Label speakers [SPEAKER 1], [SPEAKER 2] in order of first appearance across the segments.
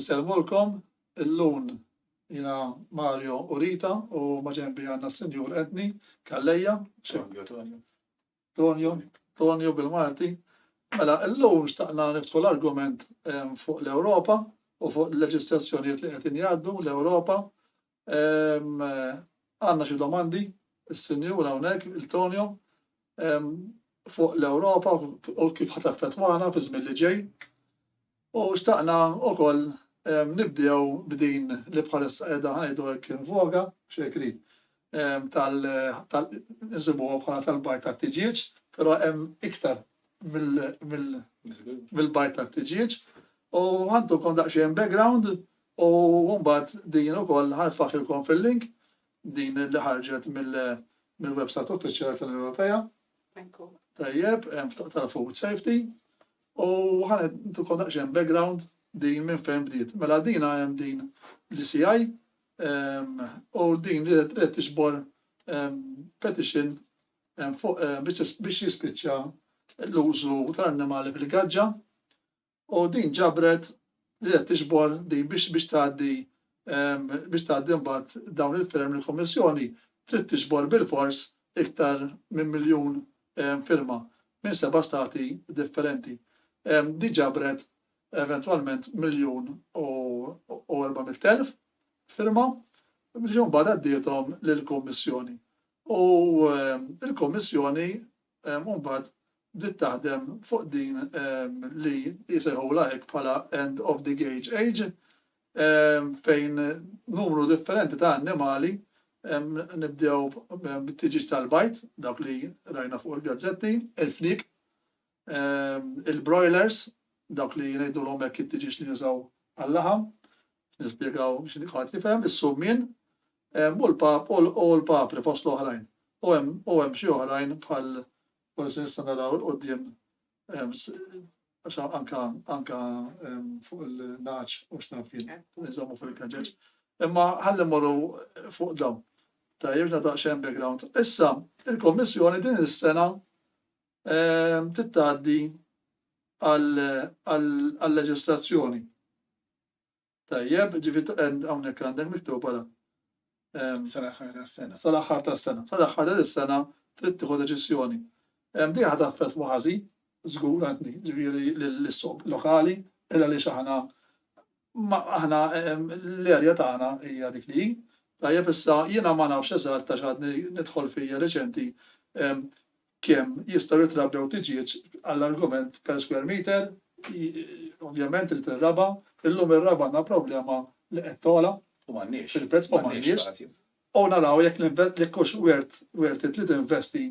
[SPEAKER 1] Insellmulkom illun jiena Mario u Rita u maġenbi għandna s-Sinjur Anthony Calleja, Tonio, Tonio bil-Malti. Mela illum xtaqna niftħu l-argument fuq l-Ewropa u fuq il-leġislazzjonijiet li qegħdin jgħaddu l-Ewropa Ehm, għandna xi domandi, is-Sinjur hawnhekk, il-Tonio, ehm, fuq l-Ewropa u kif ħat affettwana fi żmien li ġej. U xtaqna wkoll ehm, nibdew b'din li bħalissa qiegħda ngħidu hekk invoga, xekri, ehm, tal insibuha bħala tal-bajt tat-tiġieġ, però hemm iktar mill-bajt tat-tiġieġ. U għandu kon daqsxejn background U mbagħad din ukoll ħa nitfaħħilkom fil-link, din li ħarġet mill-website uffiċjali tal-Unjoni Ewropea. Ekku. Tajjeb, hemm ftuq tal-food safety. U ħa ntukom daqsxejn background din minn fejn bdiet. Mela dina hemm din l-ICI ehm, u din li qed tixbor ehm, petition ehm, fuq biex jispiċċa l-użu tal-annimali fil-gaġġa u din ġabret li qed tiġbor din biex biex tgħaddi biex tgħaddi mbagħad dawn il-firem lill-Kummissjoni trid tiġbor bilfors iktar minn miljun firma minn seba' stati differenti. Di ġabret eventwalment miljun u 400,000 firma li mbagħad għaddiethom lill-Kummissjoni. U l-Kummissjoni u mbagħad bdiet taħdem fuq din li jsejħulha hekk bħala end of the gage age fejn numru differenti ta' annimali nibdew bit-tiġiġ tal-bajd, dak li rajna fuq il-gazzetti, il-fniek, il-broilers, dak li ngħidulhom hekk it-tiġiġ li jużaw għal-laħam, nispjegaw x'inhi ħadd jifhem, is-summien, Hemm u l-Pap u u l-Papri fost l-oħrajn. U hemm u hemm xi oħrajn bħal forsi nistgħu naraw 'il quddiem għax anka anka fuq il-nagħaġ u x'naf jien iżommu fuq il-kaġġeġ. Imma ħalli mmorru fuq dawn. Tajjeb x'na daqsxejn background. Issa, il-Kommissjoni din is-sena tittgħaddi għal-leġislazzjoni. Tajjeb, ġifieri end hawnhekk għandek miktub bħala. Ehm, sal-aħħar tas-sena. Sal-aħħar tas-sena. Sal-aħħar ta' is-sena trid tieħu deċiżjoni. Ehm, di ħad affett waħażi, żgur għandni, ġifieri l-issoq lokali, illa li aħna aħna ehm, l-erja tagħna hija dik li Tajjeb issa jiena ma nafx eżatt ta' xadni nidħol fija reċenti kemm jistgħu jitrabbew tiġieġ għall-argument per square meter, ovvjament irid ir-raba', illum ir-raba' għandna problema li qed togħla fil-prezz u m'għandniex, u naraw jekk jekk hux worth worth it li tinvesti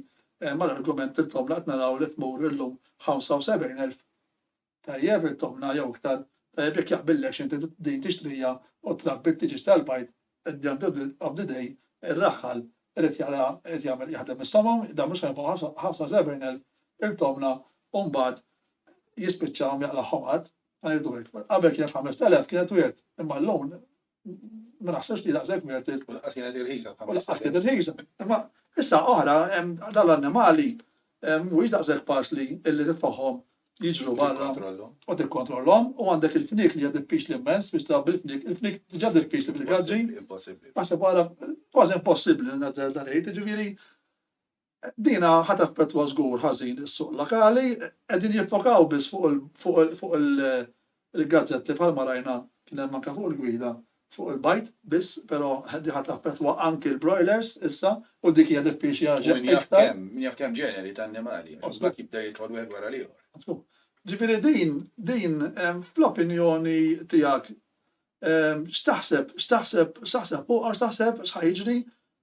[SPEAKER 1] mal-argument intom li qed naraw li tmur illum 75,000 Tajjeb it-tobna jew iktar tajjeb jekk jaqbillekx inti din tixtriha u trabbi t-tiġieġ tal-bajd at the end of the day ir-raħħal irid jara irid jagħmel jaħdem is-somom dan mhux ħa jagħmilhom ħamsa sebgħin elf il-tobna u mbagħad jispiċċahom jaqlagħhom qatt ma jridu hekk. Qabel kienet ħamest elef kienet wirt imma llum ma naħsibx li daqshekk minn trid tkun qas kienet irħisa. Qas kienet irħisa. Imma issa oħra dal-annimali mhuwiex daqshekk faċli illi titfagħhom jiġru barra u tikkontrollhom u għandek il-fnik li għad il-pix l-immens biex tabbi il-fnik, il-fnik ġad il-pix li bil-għadġi. Impossibli. Għasib għala kważi impossibli l-nazzar dan ejt, ġiviri. Din ħa taffettwa żgur ħażin is-suq lokali. Qegħdin jiffokaw biss fuq il-gazzetti bħalma rajna kien hemm anke fuq il-gwida fuq il-bajd biss però din ħa taffettwa anke l-broilers issa u dik hija diffiċli għal xejn iktar. U min jaf kemm, min jaf kemm ġeneri ta' annimali għax imbagħad jibda jidħol wieħed wara l-ieħor. Mażbut. Ġifieri din, din fl-opinjoni tiegħek x'taħseb, x'taħseb, x'taħseb fuqha u x'taħseb x'ħa jiġri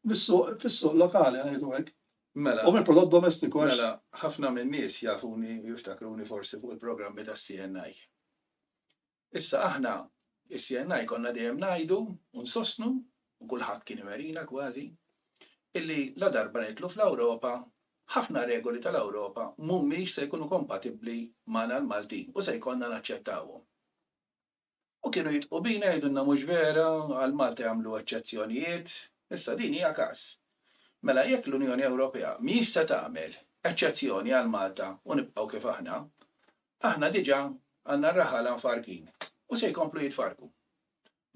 [SPEAKER 1] Mis-suq, fis-suq lokali ngħidu hekk. Mela. U mill-prodott domestiku għax. Mela, ħafna min-nies
[SPEAKER 2] jafuni u jiftakruni forsi fuq il-programmi tas-CNI. Issa aħna, is-CNI konna dejjem ngħidu u nsostnu, u kulħadd kien iwerina kważi, illi ladarba nidħlu fl-Ewropa, ħafna regoli tal-Ewropa mhumiex se jkunu kompatibbli magħna l-Maltin u se jkollna naċċettawhom. U kienu jidħqu bina jgħidulna mhux vera, għal Malta jagħmlu eċċezzjonijiet. Issa din hija każ. Mela jekk l-Unjoni Ewropea mhijiex se tagħmel eċċezzjoni għal Malta u nibqgħu kif aħna, aħna diġà għandna r-raħala mfarrkin u se jkomplu jitfarrku.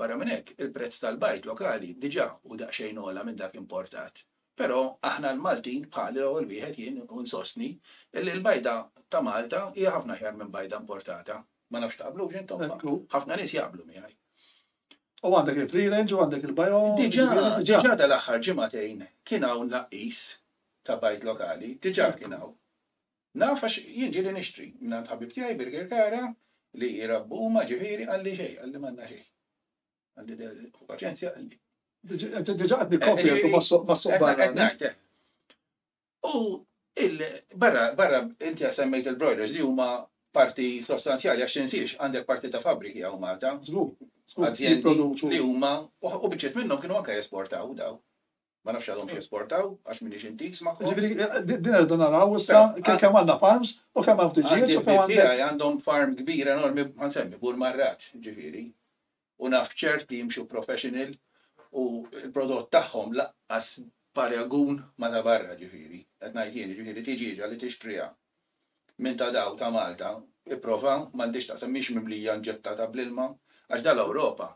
[SPEAKER 2] Barra minn hekk, il-prezz tal-bajd lokali diġà hu daqsxejn ogħla minn dak importat. Però aħna l-Maltin, bħali l-ewwel wieħed jien insostni, illi l-bajda ta' Malta hija ħafna aħjar minn bajda importata. Ma nafx taqblux intom, ħafna nies jaqblu miegħi. U
[SPEAKER 1] għandek il-free range u għandek il-bio. Diġà, diġà
[SPEAKER 2] dal-aħħar ġimagħtejn kien hawn naqis ta' bajt lokali, diġà kien hawn. Naf għax jien ġieli nixtri, minn ħabib tiegħi Birger Kara li jirabbu huma ġifieri għalli xejn, għalli m'għandna xejn. Għalli paċenzja għalli. Diġà
[SPEAKER 1] qed nikkopja ma' soq barra.
[SPEAKER 2] U il, barra, barra, inti għad semmejt il-broilers li huma parti sostanzjali għax tinsiex għandek parti ta' fabbriki hawn Malta. Żgur, żgur. Azjendi li huma, u biċċiet minnhom kienu anke jesportaw daw. Ma nafx għadhomx jesportaw għax m'iniex intiż magħhom. Ġifieri eh, eh, din irdu
[SPEAKER 1] naraw issa kemm għandna farms u kemm hawn tiġijiet u kemm għandhom. Għandhom farm
[SPEAKER 2] kbir enormi ma nsemmi bur marrat, ġifieri. U naf ċert li jimxu professional u l-prodott tagħhom lanqas b'paragun ma' ta' barra ġifieri, qed ngħid jien, jiġifieri tiġieġa li tixtriha minn ta' daw ta' Malta ipprova, m'għandhiex x'taqsam, mhix mimlija inġettata bl-ilma, għax dan l-Ewropa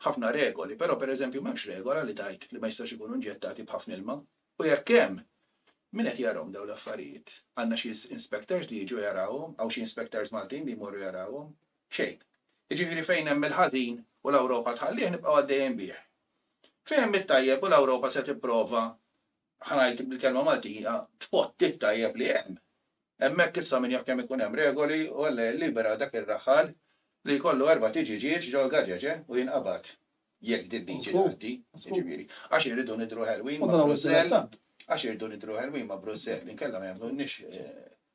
[SPEAKER 2] ħafna regoli, però per eżempju m'hemmx regola li tgħid li ma jistgħux ikunu inġettati b'ħafna ilma, u jekk hemm, min qed jarahom daw l-affarijiet? Għandna xi inspectors li jiġu jarawhom, hawn xi inspectors Maltin li jmorru jarawhom? Xejn. Jiġifieri fejn hemm il-ħażin u l-Ewropa tħallih nibqgħu għaddejjin bih. Fihem it-tajjeb u l-Ewropa se tipprova, ħa ngħid bil-kelma Maltija, tpotti t-tajjeb li hemm. Hemmhekk issa min jaf kemm ikun hemm regoli u Alla jillibera dak ir-raħħal li jkollu erbat iġiġieġ ġol-gaġeġe u jinqabad. Jekk dil-liġi tgħaddi, jiġifieri. Għax irridu nidhru ħelwin ma' Brussell, għax irridu nidhru ħelwin ma' Brussell, inkella ma jagħmlulniex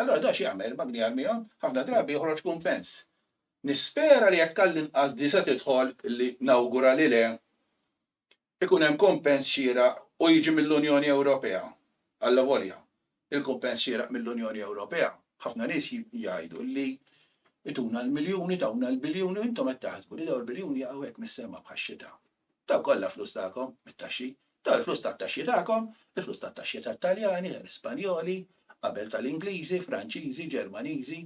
[SPEAKER 2] Allura da x'jagħmel il-magni għal miegħu? Ħafna drabi joħroġ kumpens. Nispera li jekk għall-inqas di se tidħol li nawgura li le, ikun hemm kumpens xieraq u jiġi mill-Unjoni Ewropea. Allavolja, il-kumpens xieraq mill-Unjoni Ewropea, ħafna nies jgħidu li ituna l-miljuni, tawna l-biljuni, intom qed taħsbu li dawn il-biljuni jaqgħu hekk mis-sema bħax-xita. Dawn kollha flus tagħkom, mit-taxxi. Dawn il-flus tat-taxxi tagħkom, il-flus tat-taxxi tat-Taljani, tal-Ispanjoli, qabel tal-Ingliżi, Franċiżi, Ġermaniżi,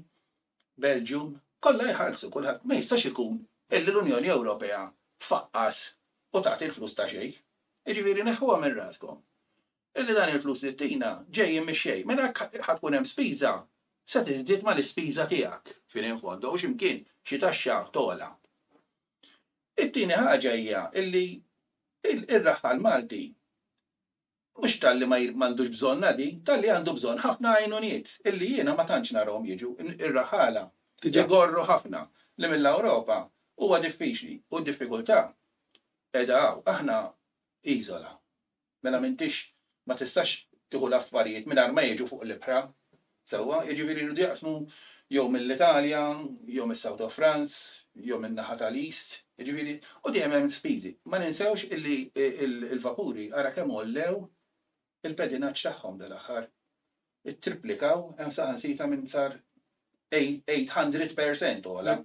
[SPEAKER 2] Belgium, kollha jħallsu kulħadd. Ma jistax ikun illi l-Unjoni Ewropea tfaqqas u tagħti l-flus ta' xejn. Jiġifieri neħħuha minn raskom illi dan il-flus li ttina ġejjin mix-xejn. Mela jekk ħa tkun hemm spiża, se tiżdied mal-ispiża tiegħek, fine in fondo, u xi mkien xi taxxa togħla. It-tieni ħaġa hija li r-raħħal Malti mhux talli ma għandux bżonnha din, talli għandu bżonn ħafna għajnuniet illi jiena ma tantx narahom jiġu. Ir-raħħala igorru ħafna li mill-Ewropa huwa diffiċli u d-diffikultà qiegħda hawn. Aħna iżola, Mela m'intix ma tistax tieħu l-affarijiet mingħajr ma jiġu fuq l-ibħra. Sewwa? Jiġifieri jridu jaqsmu jew mill-Italja, jew mis-South of France, jew min-naħa tal-East, jiġifieri, u dejjem hemm spiżi. Ma ninsewx illi l-vapuri ara kemm għollew il-pedinaġġ tagħhom dal-aħħar. Ittriplikaw, hemm saħansitra minn sar 800 percent ogħla.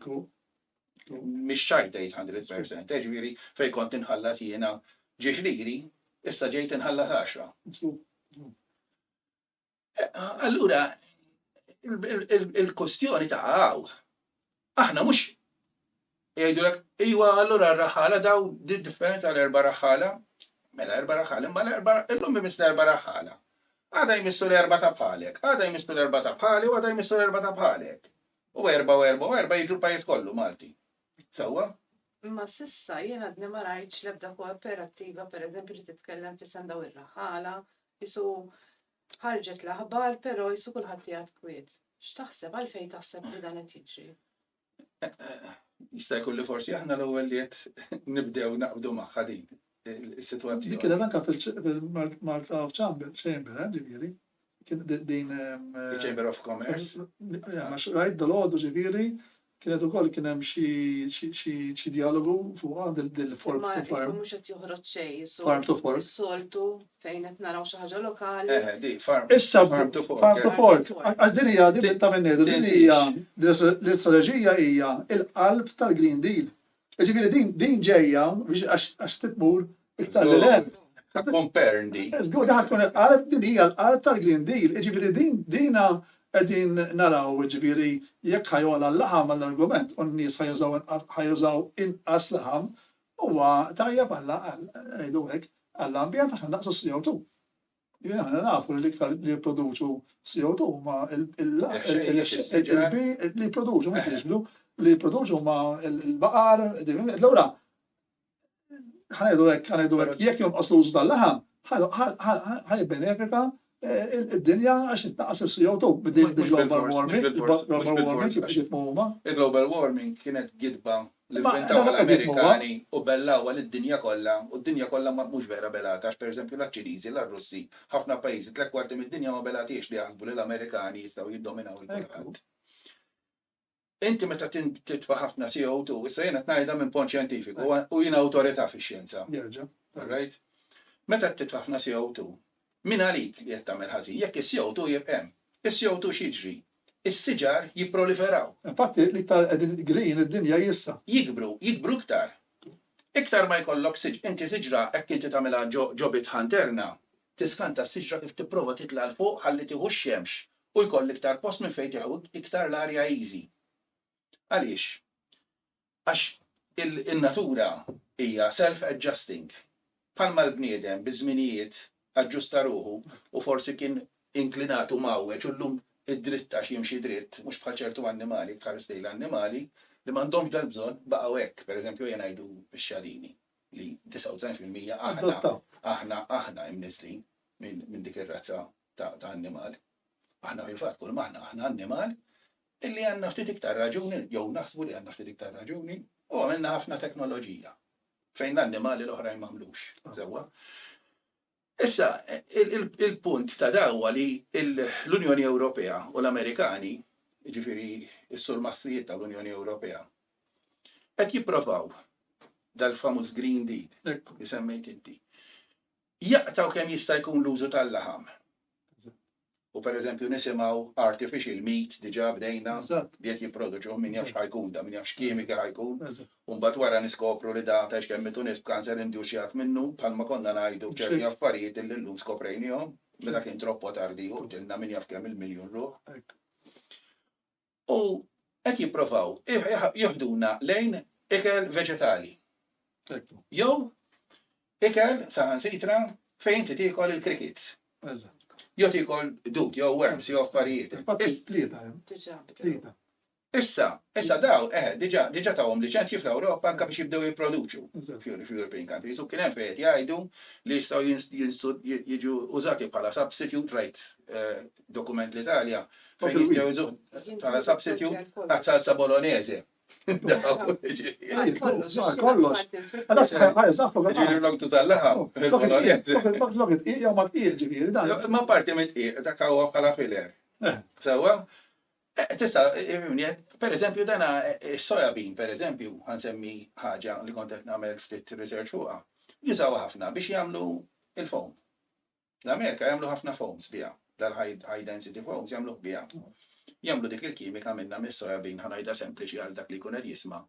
[SPEAKER 2] Mhix ċajt 800 percent, eh, ġifieri fejn kont inħallas jiena ġiex liri, issa ġejt inħallas 10. Eh, allura, il-kustjoni ta' għaw, Aħna mhux jgħidulek iwa allura r-raħħala dawn din differenza għal erba' raħħala, mela erba' raħħala, imma l-erba' illum imiss l-erba' raħħala. Għada jmissu l-erba' ta' bħalek, għada jmissu l-erba' ta' bħali u għada jmissu l-erba' ta' bħalek. U erba' u erba' u erba' jiġu l-pajjiż kollu Malti. Sewwa? Imma
[SPEAKER 3] s'issa jien għadni ma rajtx l-ebda koopperattiva pereżempju li titkellem f'isem dawn ir-raħħala, qisu Ħarġet l-aħbar, però qisu kulħadd qiegħed kwiet. X'taħseb, għalfejn taħseb li dan qed jiġri? Jista'
[SPEAKER 2] jkun li forsi aħna l-ewwel li qed nibdew naqbdu magħha din is-sitwazzjoni. Dik kienet anke
[SPEAKER 1] fil-Malta of Chamber, Chamber, eh, ġifieri. Kien din. Chamber of Commerce. Rajt dal-għodu
[SPEAKER 2] ġifieri
[SPEAKER 1] Kienet ukoll kien hemm xi xi xi xi djalogu fuqha din din l-fork Imma to isma' farm. mhux qed
[SPEAKER 3] joħroġ
[SPEAKER 1] xejn
[SPEAKER 3] is-sol- Farm to fork.
[SPEAKER 1] is-soltu fejn
[SPEAKER 3] qed naraw xi ħaġa lokali. Eħe, di, farm. Issa
[SPEAKER 2] Farm to fork, farm
[SPEAKER 1] to eh.
[SPEAKER 2] fork. Għax għax
[SPEAKER 1] din hija din
[SPEAKER 3] ta' min
[SPEAKER 1] ngħidu, din Tinsiex. hija din l-istrateġija hija l-qalb tal-Green Deal. Ġifieri din din ġejja biex għax għax titmur iktar lil hemm. Ta' compern
[SPEAKER 2] di. Żgur daħal tkun il-qalb
[SPEAKER 1] din hija l-qalb tal-Green Deal. Ġifieri din dina qegħdin naraw ġifieri jekk ħa jogħla l-laħam għall-argument u n-nies ħa jużaw inqas ħa jużaw inqas laħam huwa tajjeb għall-għal ngħidu hekk għall-ambjent għax ħa nnaqqsu s-CO2. Jien aħna nafu li l-iktar li jipproduċu CO2 huma il-ħxejbi li jipproduċu mhux jiġbdu li jipproduċu huma l-baqar, l-ura. Ħanajdu hekk, ħanajdu hekk, jekk jonqos l-użu tal-laħam, ħajbenefika id-dinja għax it-taqas il-CO2 bid-global warming. Il-global
[SPEAKER 2] warming kienet gidba Imma dan huwa qed jgħid huwa. L-ivvintaw għall-Amerikani u bellawha lid-dinja kollha, u d-dinja kollha ma, mhux vera belata għax pereżempju la ċ-Ċiniżi, la r-Russi, ħafna pajjiżi, tliet kwarti mid-dinja ma belatiex li jaħsbu li l-Amerikani jistgħu jiddominaw lil kulħadd. Inti meta titfa' ħafna CO2, issa jien qed ngħidha minn pont xjentifiku u jien awtorità fix-xjenza. Nerġa'. All right? Meta titfa' ħafna CO2, Min għalik li qed tagħmel ħażin jekk is-CO two jibq' hemm. Is-CO two x'jiġri? Is-siġar jipproliferaw. Infatti l-iktar
[SPEAKER 1] qegħdin green id-dinja hi issa. Jikbru, jikbru
[SPEAKER 2] iktar. Iktar ma jkollok siġ, inti siġra hekk inti tagħmilha ġo ġo bitħa interna, tiskanta s-siġra kif tipprova titla' 'l fuq ħalli tieħu x-xemx u jkoll iktar post minn fejn tieħu iktar l-arja easy. Għaliex? Għax in-natura hija self-adjusting. Bħalma l-bniedem biż-żminijiet aġġusta ruħu u forsi kien inklinat u mgħawweġ u llum id-dritt għax jimxi dritt, mhux bħal ċertu annimali, jekk tħares lejn l-annimali li m'għandhomx dal-bżonn baqgħu hekk. Per eżempju ejja ngħidu x-xadini li 99 fil-mija aħna, aħna, aħna imniżżlin minn dik ir-razza ta' annimal. Aħna fil-fatt kulma aħna, aħna annimal Illi għandna ftit iktar raġuni, jew naħsbu li għandna ftit iktar raġuni, u għamilna ħafna teknoloġija, fejn l-annimali l-oħrajn m'għamlux sewwa. Issa, il-punt ta' da huwa li l-Unjoni Ewropea u l-Amerikani, jiġifieri s-surmastrijiet tal-Unjoni Ewropea, qed jipprovaw dal-famuż Green Deal li semmejt inti, jaqtgħu kemm jista' jkun l-użu tal-laħam. U per eżempju nisimgħu artificial meat diġà bdejna li qed jipproduċuh min jaf x'ħa jkun da, min jaf x'kimika ħa jkun. U mbagħad wara niskopru li da tgħix kemm mitu nies b'cancer indusjat minnu bħalma konna ngħidu b'ċerti affarijiet illi llum skoprejnihom meta kien troppo tardi u qtilna min jaf kemm il-miljun ruħ. U qed jipprovaw jiħduna lejn ikel veġetali. Jew ikel saħansitra fejn inti tiekol il-crickets. Jew tiekol dud jew worms jew affarijiet. Issa, issa daw, eħe, diġa, diġa tawhom liċenzji fl-Ewropa anke biex jibdew jipproduċu fl-European countries. U kien hemm fejn jgħidu li jistgħu jiġu użati bħala substitute right eh, dokument l-Italja, fejn jistgħu jżuħ bħala substitute ta' salsa bolognese.
[SPEAKER 1] Kollox. Għada sħajħaj,
[SPEAKER 2] zaħħu għada. Ġiri l-log tu tal-laħa, il-bolognese. Log it-iq, jaw ma t-iq ġiri. Ma parti mit iq, ta' kawa bħala filer. Eh. Sewa? Eh, tista, eh, per eżempju, dana soja bean, per eżempju, għansemmi ħaġa li kontet namel ftit research fuqa. Jisawa ħafna biex jamlu il-fom. Fl-Amerika jagħmlu ħafna foams biha. Dal-high density foams jagħmluh biha. Jagħmlu dik il-kimika minnha mis-soja bean, ħa ngħidha sempliċi għal dak li jkun qed jisma',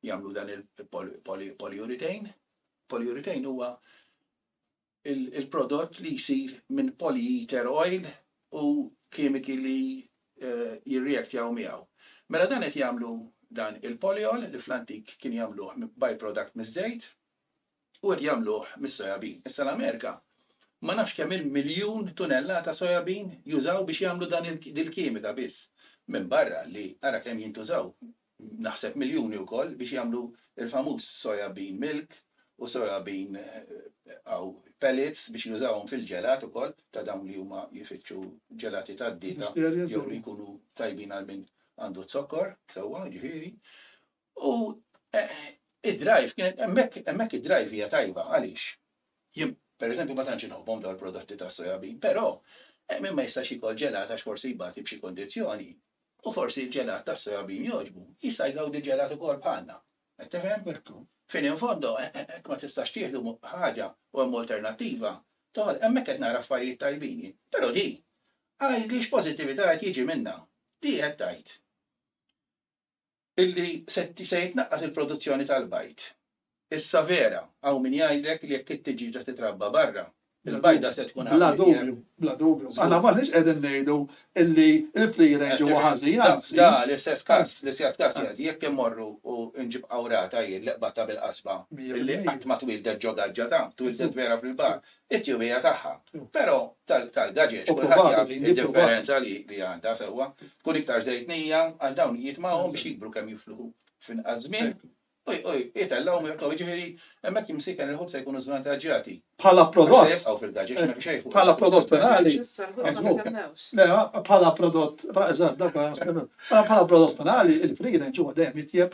[SPEAKER 2] jagħmlu dan il-polyurethane. Polyurethane huwa il-prodott li jsir minn polyether oil u kimiki li eh, jirreaktjaw miegħu. Mela dan qed jagħmlu dan il-polyol li fl-antik kien jagħmluh byproduct miż-żejt, u qed jagħmluh mis-soja bean. Issa l-Amerika ma nafx kemm-il miljun tunellata soja bean jużaw biex jagħmlu dan dil-kimika biss. Minbarra li ara kemm jintużaw, naħseb miljuni wkoll biex jagħmlu l-famuż soja bean milk u soja bean hawn pellets biex jużawhom fil-ġelat ukoll ta' dawn li huma jfittxu ġelati tad-dieta jew li jkunu tajbin għal min għandu z-zokkor sewwa jiġifieri U id-drive kienet hemmhekk hemmhekk id-drive hija tajba għaliex jien pereżempju ma tantx inħobbhom dawn il-prodotti tas-soja bean, però min ma jistax jiekol ġelat għax forsi jbati b'xi kundizzjoni u forsi l-ġelat tas-soja bean jogħġbu, jista' jgawdi ġelat ukoll bħalna. Qed tifhem? Fin in fondo hekk ma tistax tieħdu ħaġa u hemm alternattiva, toħol hemmhekk qed nara affarijiet tajbin jien. Però di, għidli x'pożittività qed jiġi minnha. Di qed tgħid. illi se jitnaqqas il-produzzjoni tal-bajd. Issa vera, hawn min jgħidlek li jekk it-tiġieġa titrabba barra, il-bajda se tkun aħjar. Bla dubju, bla
[SPEAKER 1] dubju. Aħna m'aħniex qegħdin ngħidu illi l-free range huwa ħażin, anzi. Da l-istess każ,
[SPEAKER 2] l-istess każ jgħid li jekk immorru u nġib qawrata jien li qbadtha bil-qasba, illi qatt ma twieldet ġo gaġġa, da, twieldet vera fil-baħar, it-tjubija tagħha. Però tal-gaġeġ kulħadd jaf id-differenza li għandha sewwa. Tkun iktar żejtnija għax dawn jitmagħhom biex jikbru kemm jifluħu f'inqas żmien u jitellgħu mirqu, jiġifieri hemmhekk imsieker il-ħut se jkunu żvantaġġjati. Bħala prodott. Se
[SPEAKER 1] jibqgħu fil-gaġeġ ma jibqgħux jieħdu.
[SPEAKER 2] Bħala prodott finali.
[SPEAKER 1] Bħala prodott, eżatt, dak ma jistennewx. Bħala prodott finali, il-free range huwa dejjem itjeb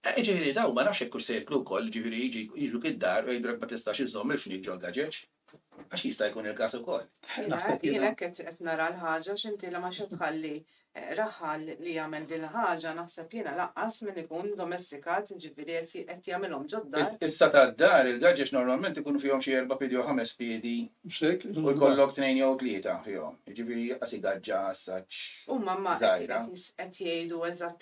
[SPEAKER 2] Ah, jiġifieri dawn ma nafx jekk hux se jeklu wkoll, jiġifieri jiġi jiġu gid-dar u jgħidulek ma tistax iżżomm il-fniek ġol-gaġeġ? Għax jista' jkun il-każ ukoll. Naħseb jiena. Jien
[SPEAKER 3] hekk qed nara l-ħaġa għax inti la ma se tħalli raħal li jagħmel din il-ħaġa naħseb jiena laqqas min ikun domestikat jiġifieri qed qed jagħmilhom ġod-dar. Issa tad-dar
[SPEAKER 2] il-gaġeġ normalment ikunu fihom xi erba' piedi jew ħames piedi u jkollok tnejn jew tlieta fihom, jiġifieri jaqas igaġġa assaġġ żgħira. Huma ma
[SPEAKER 3] qed jgħidu eżatt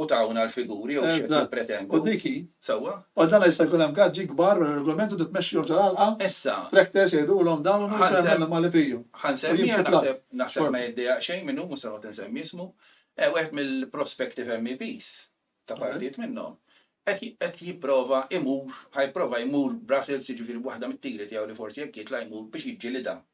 [SPEAKER 2] u tawna l-figuri jew x'qed jippretendu.
[SPEAKER 1] Sewwa. U dan
[SPEAKER 2] issa jkun hemm
[SPEAKER 1] gaġġi kbar wara r-regolament u titmexxihom ġol-għalqa. Issa. Tractors
[SPEAKER 2] jgħidulhom
[SPEAKER 1] dawn u jkun hemm l-annimali fihom. Ħa nsemmiha naħseb
[SPEAKER 2] naħseb ma jiddejjaq xejn min hu mhux se noqgħod insemmi ismu. Wieħed mill-prospective MEPs ta' partijiet minnhom qed qed jipprova imur ħa jipprova jmur Brussels jiġifieri waħda mit-tiri tiegħu li forsi jekk jitla' jmur biex jiġġilidha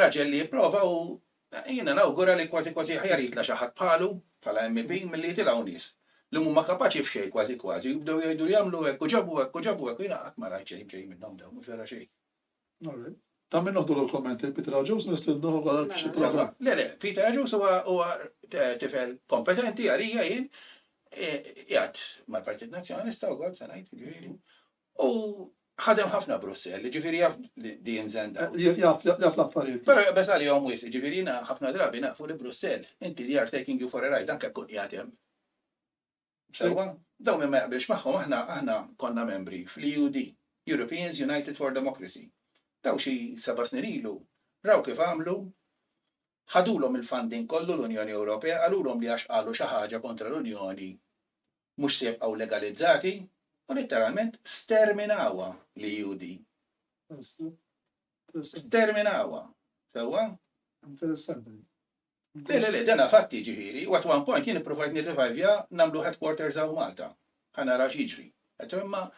[SPEAKER 2] Raġel li jipprova u jiena nawgura li kważi kważi aħjar jitlgħa xi ħadd bħalu bħala MEP milli jitilgħu nies li mhuma kapaċi f'xejn kważi kważi u jibdew jgħidu li għamlu hekk u ġabu hekk u ġabu hekk u jiena qatt ma rajt xejn b'xejn minnhom dawn mhux vera xejn. Alright. Ta' min noħdulu
[SPEAKER 1] l-kumment, lil Peter Agius nistednuh ukoll għal xi programm? Le le, Peter Agius
[SPEAKER 2] huwa tifel kompetenti għalija jien, qiegħed mal-Partit Nazzjonalista wkoll se ngħid, jiġifieri, U ħadem ħafna Brussell, jiġifieri jaf di ins and outs. Jaf, jaf
[SPEAKER 1] l-affarijiet. Però jaqbeż għalihom
[SPEAKER 2] wisq, jiġifieri jiena ħafna drabi naqfu li Brussell, inti they are taking you for a ride anke jekk tkun qiegħed hemm. Sewwa? Dawn min ma jaqbilx magħhom aħna aħna konna membri fl-EUD, Europeans United for Democracy. Dawn xi seba' snin ilu raw kif għamlu, ħadulhom il-funding kollu l-Unjoni Ewropea, qalulhom li għax qalu xi ħaġa kontra l-Unjoni mhux se jibqgħu legalizzati u litteralment sterminawha l-EUD. Sterminawha. Sewwa?
[SPEAKER 1] Interessanti.
[SPEAKER 2] Le, le, le, dana fatti ġifieri, u at one point jien ippruvajt nirrivajvja nagħmlu headquarters hawn Malta. Ħa nara x'jiġri. Imma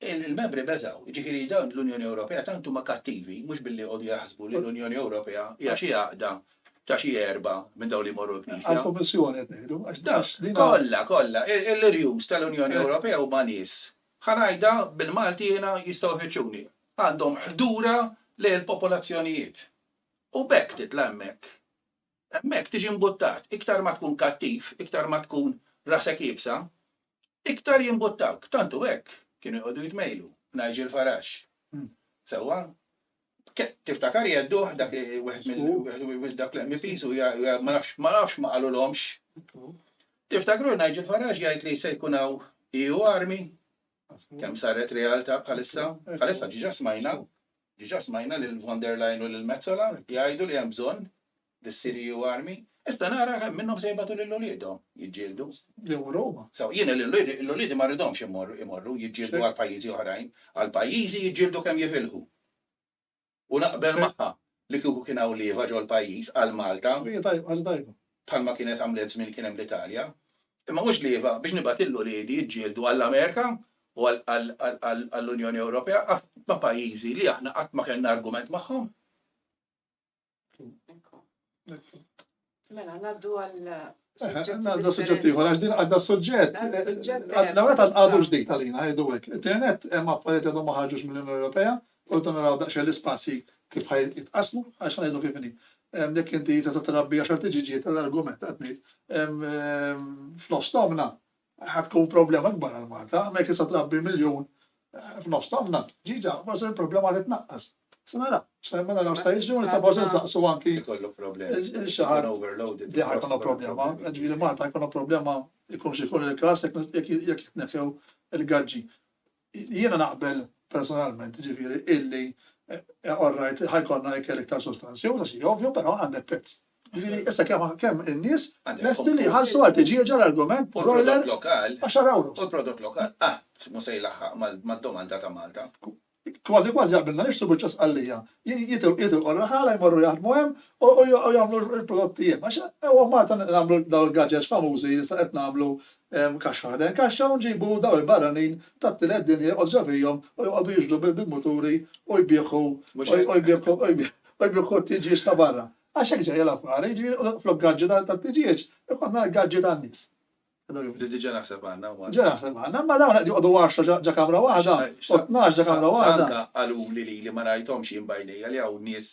[SPEAKER 2] Il-membri beżgħu, jiġifieri dawn l-Unjoni Ewropea tant huma kattivi, mhux billi jqogħdu jaħsbu li l-Unjoni Ewropea hija xi għaqda ta' xi erbgħa minn dawn li jmorru l-Knisja. Għall-Kummissjoni qed ngħidu,
[SPEAKER 1] għax dawn din. Kollha, kollha.
[SPEAKER 2] L-irjus tal-Unjoni Ewropea huma nies, ħa ngħidha bil-Malti jiena jistgħu jfittxuni, għandhom ħdura lejn il-popolazzjonijiet. U b'hekk titla' hemmhekk. Hemmhekk tiġi mbuttat. Iktar ma tkun kattiv, iktar ma tkun rasek iebsa, Iktar jimbuttawk, tant hu hekk, kienu jqogħdu jitmejlu, Nigel Farage. Sewwa? Tiftakar jgħedduh dak wieħed mill dak l-MPs u ma nafx ma nafx ma qalulhomx. Tiftakru Nigel Farage jgħid li se jkun hawn EU armi? Kemm saret realtà bħalissa? Bħalissa ġiġa smajna, ġiġa smajna lil von der Leyen u lil Mezzola jgħidu li hemm bżonn bis-Siriju armi, issa nara kemm minnhom se jibgħatu lil uliedhom jiġġieldu. Jew Roma.
[SPEAKER 1] So, jiena lil
[SPEAKER 2] uliedi ma rridhomx imorru jiġġieldu għal pajjiżi oħrajn, għal pajjiżi jiġġieldu kemm jifilħu. U naqbel magħha li kieku kien hawn lieva ġol-pajjiż għal Malta, bħalma kienet għamlet żmien kien hemm l-Italja, imma mhux lieva biex nibgħat lil uliedi jiġġieldu għall-Amerika u għall-Unjoni Ewropea ma' pajjiżi li aħna qatt ma kellna argument magħhom.
[SPEAKER 3] Mela, naddu għal. Għadda
[SPEAKER 1] suġġett ieħor, għax din għadda suġġett. Għadda għadda għadu ġdejt għalina, għadu għek. Internet, hemm affarijiet għadhom ma ħarġux mill-Unjoni Ewropea, u rridu naraw daqsxejn l-ispazji kif ħaj jitqasmu, għax ħajdu kif inhi. Jekk inti ta' trabbi għax artiġiġiet tal-argument qed ngħid. Fl-ostomna Ħa tkun problema kbar għal Malta, hemmhekk tista' trabbi miljun f'nofs tonna, ġiġa, ma se problema li tnaqqas. Se nara, se ma naraw sta jiġu, nista' forsi nsaqsu anki. Ikollu problema.
[SPEAKER 2] Xaħar overloaded.
[SPEAKER 1] Di ħajkun
[SPEAKER 2] problema,
[SPEAKER 1] ġifieri Malta ħajkun problema jkun xi jkun il-każ jekk jitneħew il-gaġġi. Jiena naqbel personalment, jiġifieri, illi all right, ħa jkollna ikel iktar sostanzjuż għax hija ovvju, però għandek prezz. Jiġifieri, issa kemm kemm in-nies lesti li jħallsu għal tiġieġa l-argument U broiler l-prodott lokal, 10 u ewros.
[SPEAKER 2] l-prodott
[SPEAKER 1] lokal qatt
[SPEAKER 2] mhu se jlaħħaq mal mad-domanda ta' Malta. Kważi kważi
[SPEAKER 1] jaqblilna nixtru biċċa sqallija. Ji jitil jitilqu r-raħala jmorru jaħdmu hemm u u u jagħmlu l-prodotti hemm. Għax hawn Malta nagħmlu dawn il-gadgets famużi li issa qed nagħmlu kaxxa ħdejn kaxxa u nġibu dawn il-barranin tat-tielet dinja joqogħdu ġo fihom u joqogħdu jixhdu bil-muturi u jbieħu u jbieħu t-tiġieġ ta' barra. Għax hekk ġejja l-affari, jiġifieri flok gaġġi tat-tiġieġ ikollna l-gaġġi tan-nies. Li diġà
[SPEAKER 2] naħseb għandna wkoll. Diġà naħseb għandna, imma
[SPEAKER 1] dawn qed joqogħdu għaxra ġo kamra waħda u tnax ġo kamra waħda. Anke qaluli lili
[SPEAKER 2] ma rajthomx jien b'għajnejja li hawn nies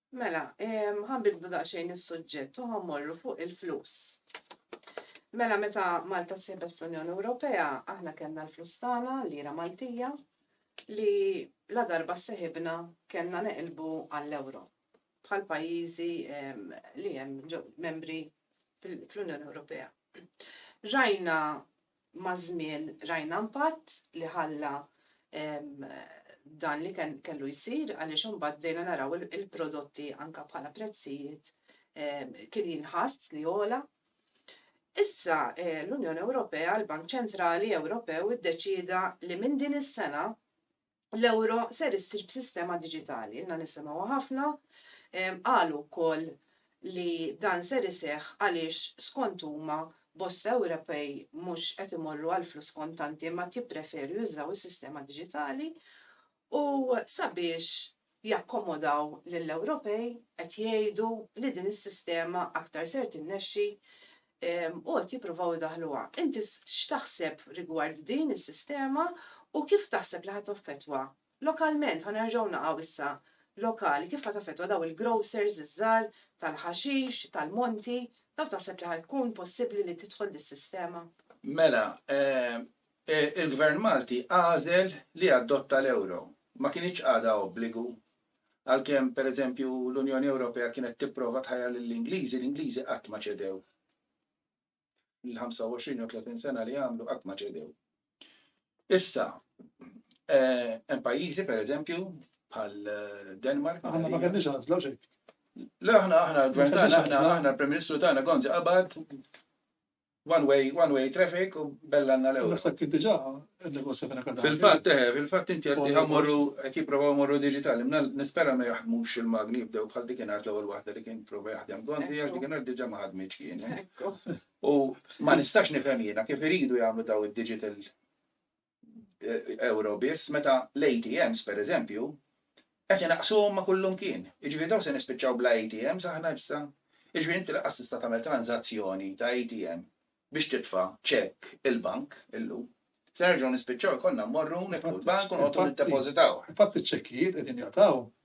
[SPEAKER 2] Mela,
[SPEAKER 3] ehm, ħanbidlu daqsxejn is-suġġett u ħammorru fuq il-flus. Mela meta Malta sibet fl-Unjoni Ewropea, aħna kellna l-flus tagħna lira Maltija li la darba seħibna kellna neqilbu għall-euro bħal pajjiżi ehm, li hemm membri fl-Unjoni Ewropea. Rajna Maż-żmien rajna impatt li ħalla dan li kellu jsir għaliex imbagħad bdejna naraw il-prodotti anke bħala prezzijiet kien jinħass li għola. Issa l-Unjoni Ewropea, il-Bank Ċentrali Ewropew iddeċieda li minn din is-sena l-euro ser issir b'sistema diġitali. Ilna nisimgħuha ħafna, qalu wkoll li dan ser iseħħ għaliex skont huma bosta Ewropej mhux qed imorru għall-flus kontanti imma qed jippreferu jużaw is-sistema diġitali u sabiex jakkomodaw lill-Ewropej qed jgħidu li din is-sistema aktar ser tinnexxi u qed jippruvaw idaħħluha. Inti x'taħseb rigward din is-sistema u kif taħseb li ħa taffettwa lokalment, ħa nerġgħu naqgħu issa lokali, kif ħa taffettwa dawn il-grocers iż-żgħar tal-ħaxix, tal-monti, dawn taħseb li ħa jkun possibbli li tidħol dis-sistema? Mela,
[SPEAKER 2] Il-Gvern Malti għażel li jadotta l-euro. Ma kinitx għadha obbligu. Għalkemm, per eżempju, l-Unjoni Ewropea kienet tipprova tħajjar lill-Ingliżi, l-Ingliżi qatt ma ċedew. Il-25 jew 30 sena li għamlu qatt ma ċedew. Issa, hemm pajjiżi, per eżempju, bħal Denmark. Aħna ma kellniex għażla
[SPEAKER 1] xejn. Le aħna
[SPEAKER 2] aħna l-Gvern tagħna aħna aħna l-Prim Ministru tagħna Gonzi qabad one way, one way traffic u bella għanna l-ewwel. Naħseb kien diġà negozja
[SPEAKER 1] minn akademja. Fil-fatt, eh, fil-fatt inti
[SPEAKER 2] qed li ħammorru qed jipprovaw morru diġitali. Mna nispera ma jaħdmux il-magni jibdew bħal dik ingħad l-ewwel waħda li kien prova jaħdem konti għax dik ingħad diġà ma ħadmitx kien. Eh. U ma nistax nifhem jiena kif iridu jagħmlu daw id-digital euro biss meta l-ATMs, pereżempju, qed inaqqsuhom ma' kullimkien. Jiġifieri dawn se nispiċċaw bla ATMs aħna issa? Jiġifieri inti lanqas tista' tagħmel tranżazzjoni ta' ATM biex titfa' ċekk il-bank illum. Se nerġgħu nispiċċaw ikollna mmorru nidħlu l-bank u
[SPEAKER 1] noqogħdu
[SPEAKER 2] niddepożitawh.
[SPEAKER 1] Infatti
[SPEAKER 2] ċ-ċekkijiet qegħdin
[SPEAKER 1] jaqtgħu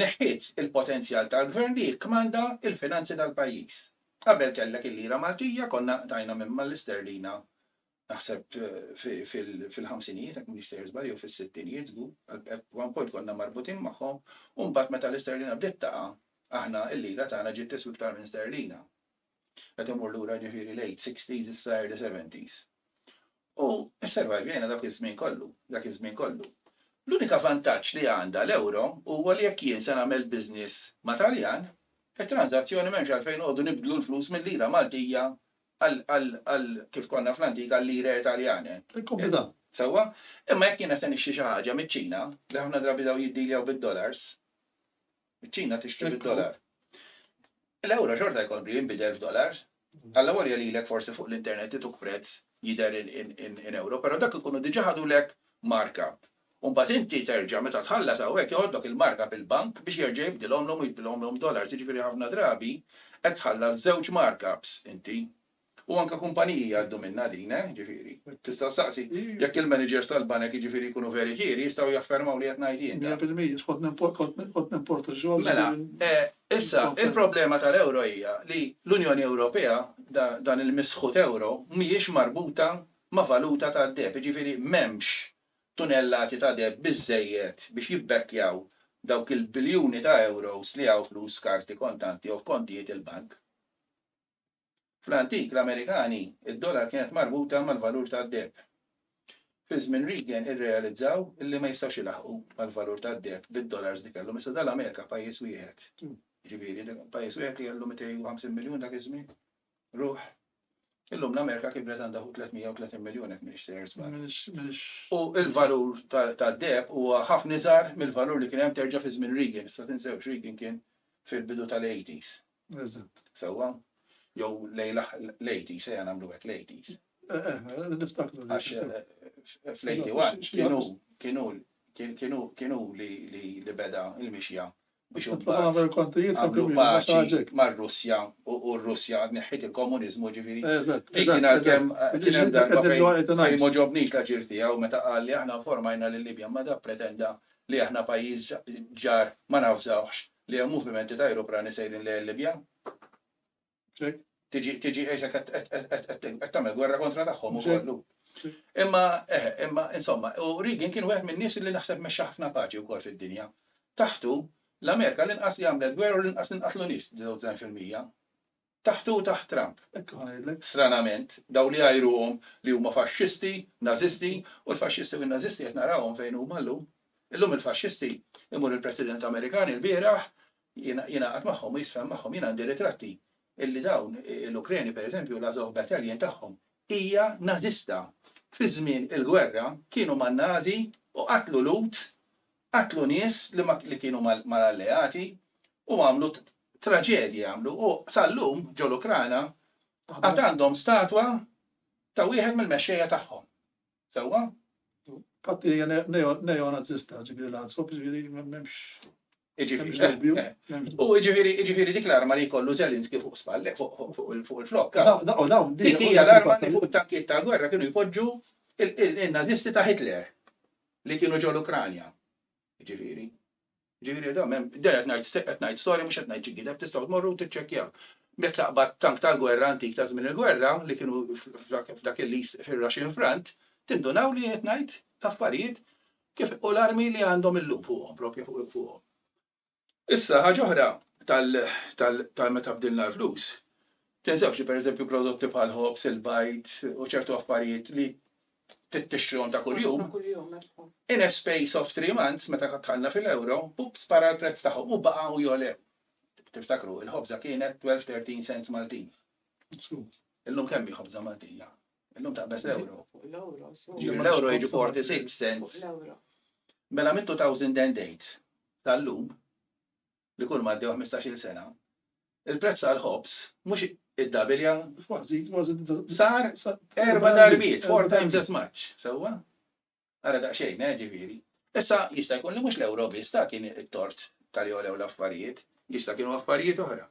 [SPEAKER 2] Neħħiet il-potenzjal tal-Gvern li jikkmanda l-finanzi tal-pajjiż. Qabel kellek il-lira Maltija, konna nqtajna minn mal-isterlina naħseb fil-ħamsinijiet jekk m'iniex sejjer żball jew fis-sittinijiet żgur, at one point konna marbutin magħhom, u mbagħad meta l-isterlina bdiet taqa' aħna l-lira tagħna ġiet tiswi iktar minn sterlina. qed imur lura ġifieri late sixties issa early seventies. U sservajvjena dak iż-żmien kollu, dak iż-żmien kollu. L-unika vantaġġ li għandha l-ewro huwa li jekk jien se nagħmel business ma' Taljan, it-tranżazzjoni m'hemmx għalfejn noqogħdu nibdlu l-flus mil-lira Maltija għal kif konna fl-antik għal-lire Taljane. Tikkombina.
[SPEAKER 1] Sewwa?
[SPEAKER 2] Imma jekk jiena se nixtri xi ħaġa miċ-Ċina, li ħafna drabi dawn jiddiljaw bid-dollars, Iċ-Ċina tixtri bid-dollar. L-ewro xorta jkompli jinbidel f'dollars. Allavolja lilek forsi fuq l-internet ituk prezz jidher in ewro, però dak ikunu diġà ħadulek markup. U mbagħad inti terġa' meta tħallas hawnhekk joħodlok il-markup il-bank biex jerġa' jibdilhomlhom u jibdilhomlhom dollars. Jiġifieri ħafna drabi qed tħallas żewġ markups inti. U anke kumpaniji jgħaddu minnha din, eh, jiġifieri. Tista' ssaqsi jekk il-managers tal-banek jiġifieri jkunu veritieri jistgħu jaffermaw li qed ngħid jien dan. Mija fil-mija,
[SPEAKER 1] kont nimporta xogħol. Mela,
[SPEAKER 2] issa, il-problema tal-euro hija li l-Unjoni Ewropea, dan il-misħut euro, mhijiex marbuta ma' valuta tad-deheb, jiġifieri m'hemmx tunellati ta' deheb biżżejjed biex jibbekkjaw dawk il-biljuni ta' euros li hawn flus karti kontanti jew f'kontijiet il-bank. Fl-antik l-Amerikani, id-dollar kienet marbuta mal-valur tad-deheb. Fi żmien Reagan irrealizzaw li ma jistgħux ilaħħqu mal-valur tad-deheb bid-dollars li kellhom. Issa dan l-Amerika pajjiż wieħed. Jiġifieri pajjiż wieħed li kellu 250 miljun dak iż-żmien ruħ. Illum l-Amerika kibret għandha 330 miljun hekk mhix sejr żball. U l-valur tad-deheb huwa ħafna iżgħar mill-valur li kien hemm terġa' fi żmien Reagan. Issa tinsewx Reagan kien fil-bidu tal-80s. Eżatt.
[SPEAKER 1] Sewwa?
[SPEAKER 2] Jew lejla l-80s, ejja nagħmlu hekk l-80s. Eh, eh, eh, niftakru.
[SPEAKER 1] Għax
[SPEAKER 2] fl-81 kienu kienu kienu kienu li beda il-mixja biex għamlu paċi mar-Russja u r-Russja neħħit il-komunizmu ġifiri. Kien għal-kem kienem darba fejn moġobnix la ġirti għaw meta għalli aħna formajna l-Libja ma da pretenda li aħna pajjiż ġar ma nafżawx Li hemm movimenti ta' ajruplani sejrin lejn il-Libja. Tiġi tiġi għexek qed qed qed qed qed qed tagħmel gwerra kontra tagħhom u kollu. Imma eh, imma insomma, u Reagan kien wieħed min-nies li naħseb mexxa ħafna paċi wkoll fid-dinja. Taħtu, l-Amerika l-inqas li għamlet gwerra u l-inqas li nqatlu nies, 99%. Taħt u taħt Trump. Hekk hu ngħidlek. Stranament, dawn li jgħajruhom li huma faxxisti, Nażisti, u l-faxxisti u n-Nażisti qed narawhom fejn huma llum. Illum il-faxxisti imur il-President Amerikan ilbieraħ jingħaqad magħhom u jisfhem magħhom. Jien għandi ritratti illi dawn l-Ukreni pereżempju l-Azov Battalion tagħhom hija Nażista. Fi żmien il-gwerra kienu man-Nażi u qatlu Lhud Qatlu nies li ma li kienu mal mal-alleati u għamlu traġedji għamlu u sal-lum ġol-Ukrana għad għandhom statwa ta' wieħed mill-mexxejja tagħhom. Sewwa? Fatt
[SPEAKER 1] hija neonazista ġifieri l-għansop ġifieri m'hemmx
[SPEAKER 2] U ġifiri, ġifiri dik l-arma li kollu Zelinski fuq spallek, fuq il-flok. Dik hija l-arma li fuq tankiet tal-gwerra kienu jpoġġu il-nazisti ta' Hitler. li kienu ġol Ukranja. Ġifieri. Ġifieri dam hemm der qed ngħid qed ngħid storja mhux qed ngħid xi gideb tistgħu tmorru u tiċċekkjaw. Jekk taqbad tank tal-gwerra antik ta' żmien il-gwerra li kienu f'dak il-lis fir-Russian Front, tindunaw li qed ngħid affarijiet kif u l-armi li għandhom illum fuqhom propju fuqhom. Issa, ħaġa oħra ta' meta bdilna l-flus, tinsewx li pereżempju prodotti bħal ħobż, il-bajd u ċertu affarijiet li tixtrihom ta' kuljum,
[SPEAKER 3] in a space of
[SPEAKER 2] three months meta dħalna fil-euro, up spara l-prezz tagħhom u baqgħu jogħlew. Tiftakru, il-ħobża kienet 12-13 cents Maltin. Illum kemm hi ħobża Maltija? Illum taqbeż l-euro.
[SPEAKER 3] L-euro jiġi
[SPEAKER 2] 46 cents.
[SPEAKER 3] Mela mit-2008
[SPEAKER 2] tal-lum, li kulma għaddew ħmistax-il sena, il-prezz tal-ħobż mhux iddabilja, sar erba' darbiet, four times as much, sewwa? Ara daqsxejn, eh, ġifieri. Issa jista' jkun li mhux l-euro biss ta' kien it-tort tal-li għolew l-affarijiet, jista' kienu affarijiet oħra.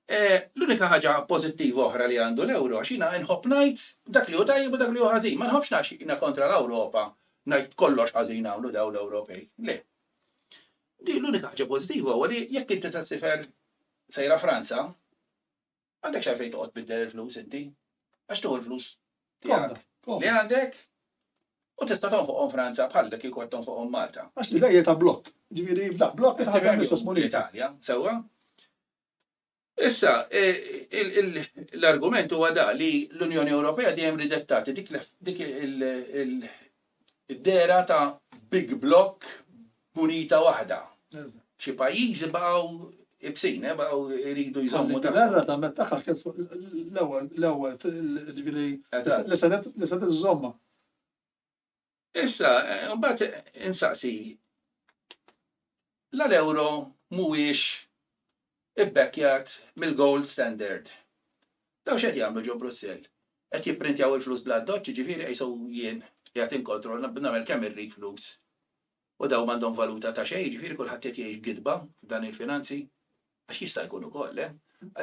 [SPEAKER 2] L-unika ħaġa pożittiva oħra li għandu l-ewro għax jiena inħobb ngħid dak li hu tajjeb u dak li hu ħażin. Ma nħobbx għax jiena kontra l-Ewropa ngħid kollox ħażin għamlu dawn l-Ewropej. Le. Di l-unika ħaġa pożittiva huwa li jekk inti se ssifer sejra Franza, għandek x'għalfejn toqgħod biddel il-flus inti. Għax tuħu l-flus tiegħek li għandek U tista' tonfoqhom Franza bħal dak kieku qed tonfoqhom Malta. Għax li dejja ta' blokk.
[SPEAKER 1] Ġifieri da blokk ta' ħadd l-istess munita. Italja, sewwa.
[SPEAKER 2] Issa, e, l-argument huwa da li l-Unjoni Ewropea dejjem ridet tagħti dik il-dera ta' big block bunita waħda. Xi pajjiżi baqgħu ibsin, eh, baqgħu jridu jżommu ta' Għarra ta' metta ħakket
[SPEAKER 1] l-ewwel, l-ewwel, ġifieri, li se iżomma.
[SPEAKER 2] Issa, mbagħad insaqsi, la l-euro mhuwiex ibbekkjat mill-gold standard. Daw x'qed jagħmlu ġo Brussell? Qed jipprintjaw il-flus bl-addoċċ, jiġifieri qishu jien qiegħed inkontrolla nagħmel kemm irrid flus. U dawn m'għandhom valuta ta' xejn, jiġifieri kulħadd qed jgħix b'gidba f'dan il-finanzi, għax jista' jkun ukoll, le?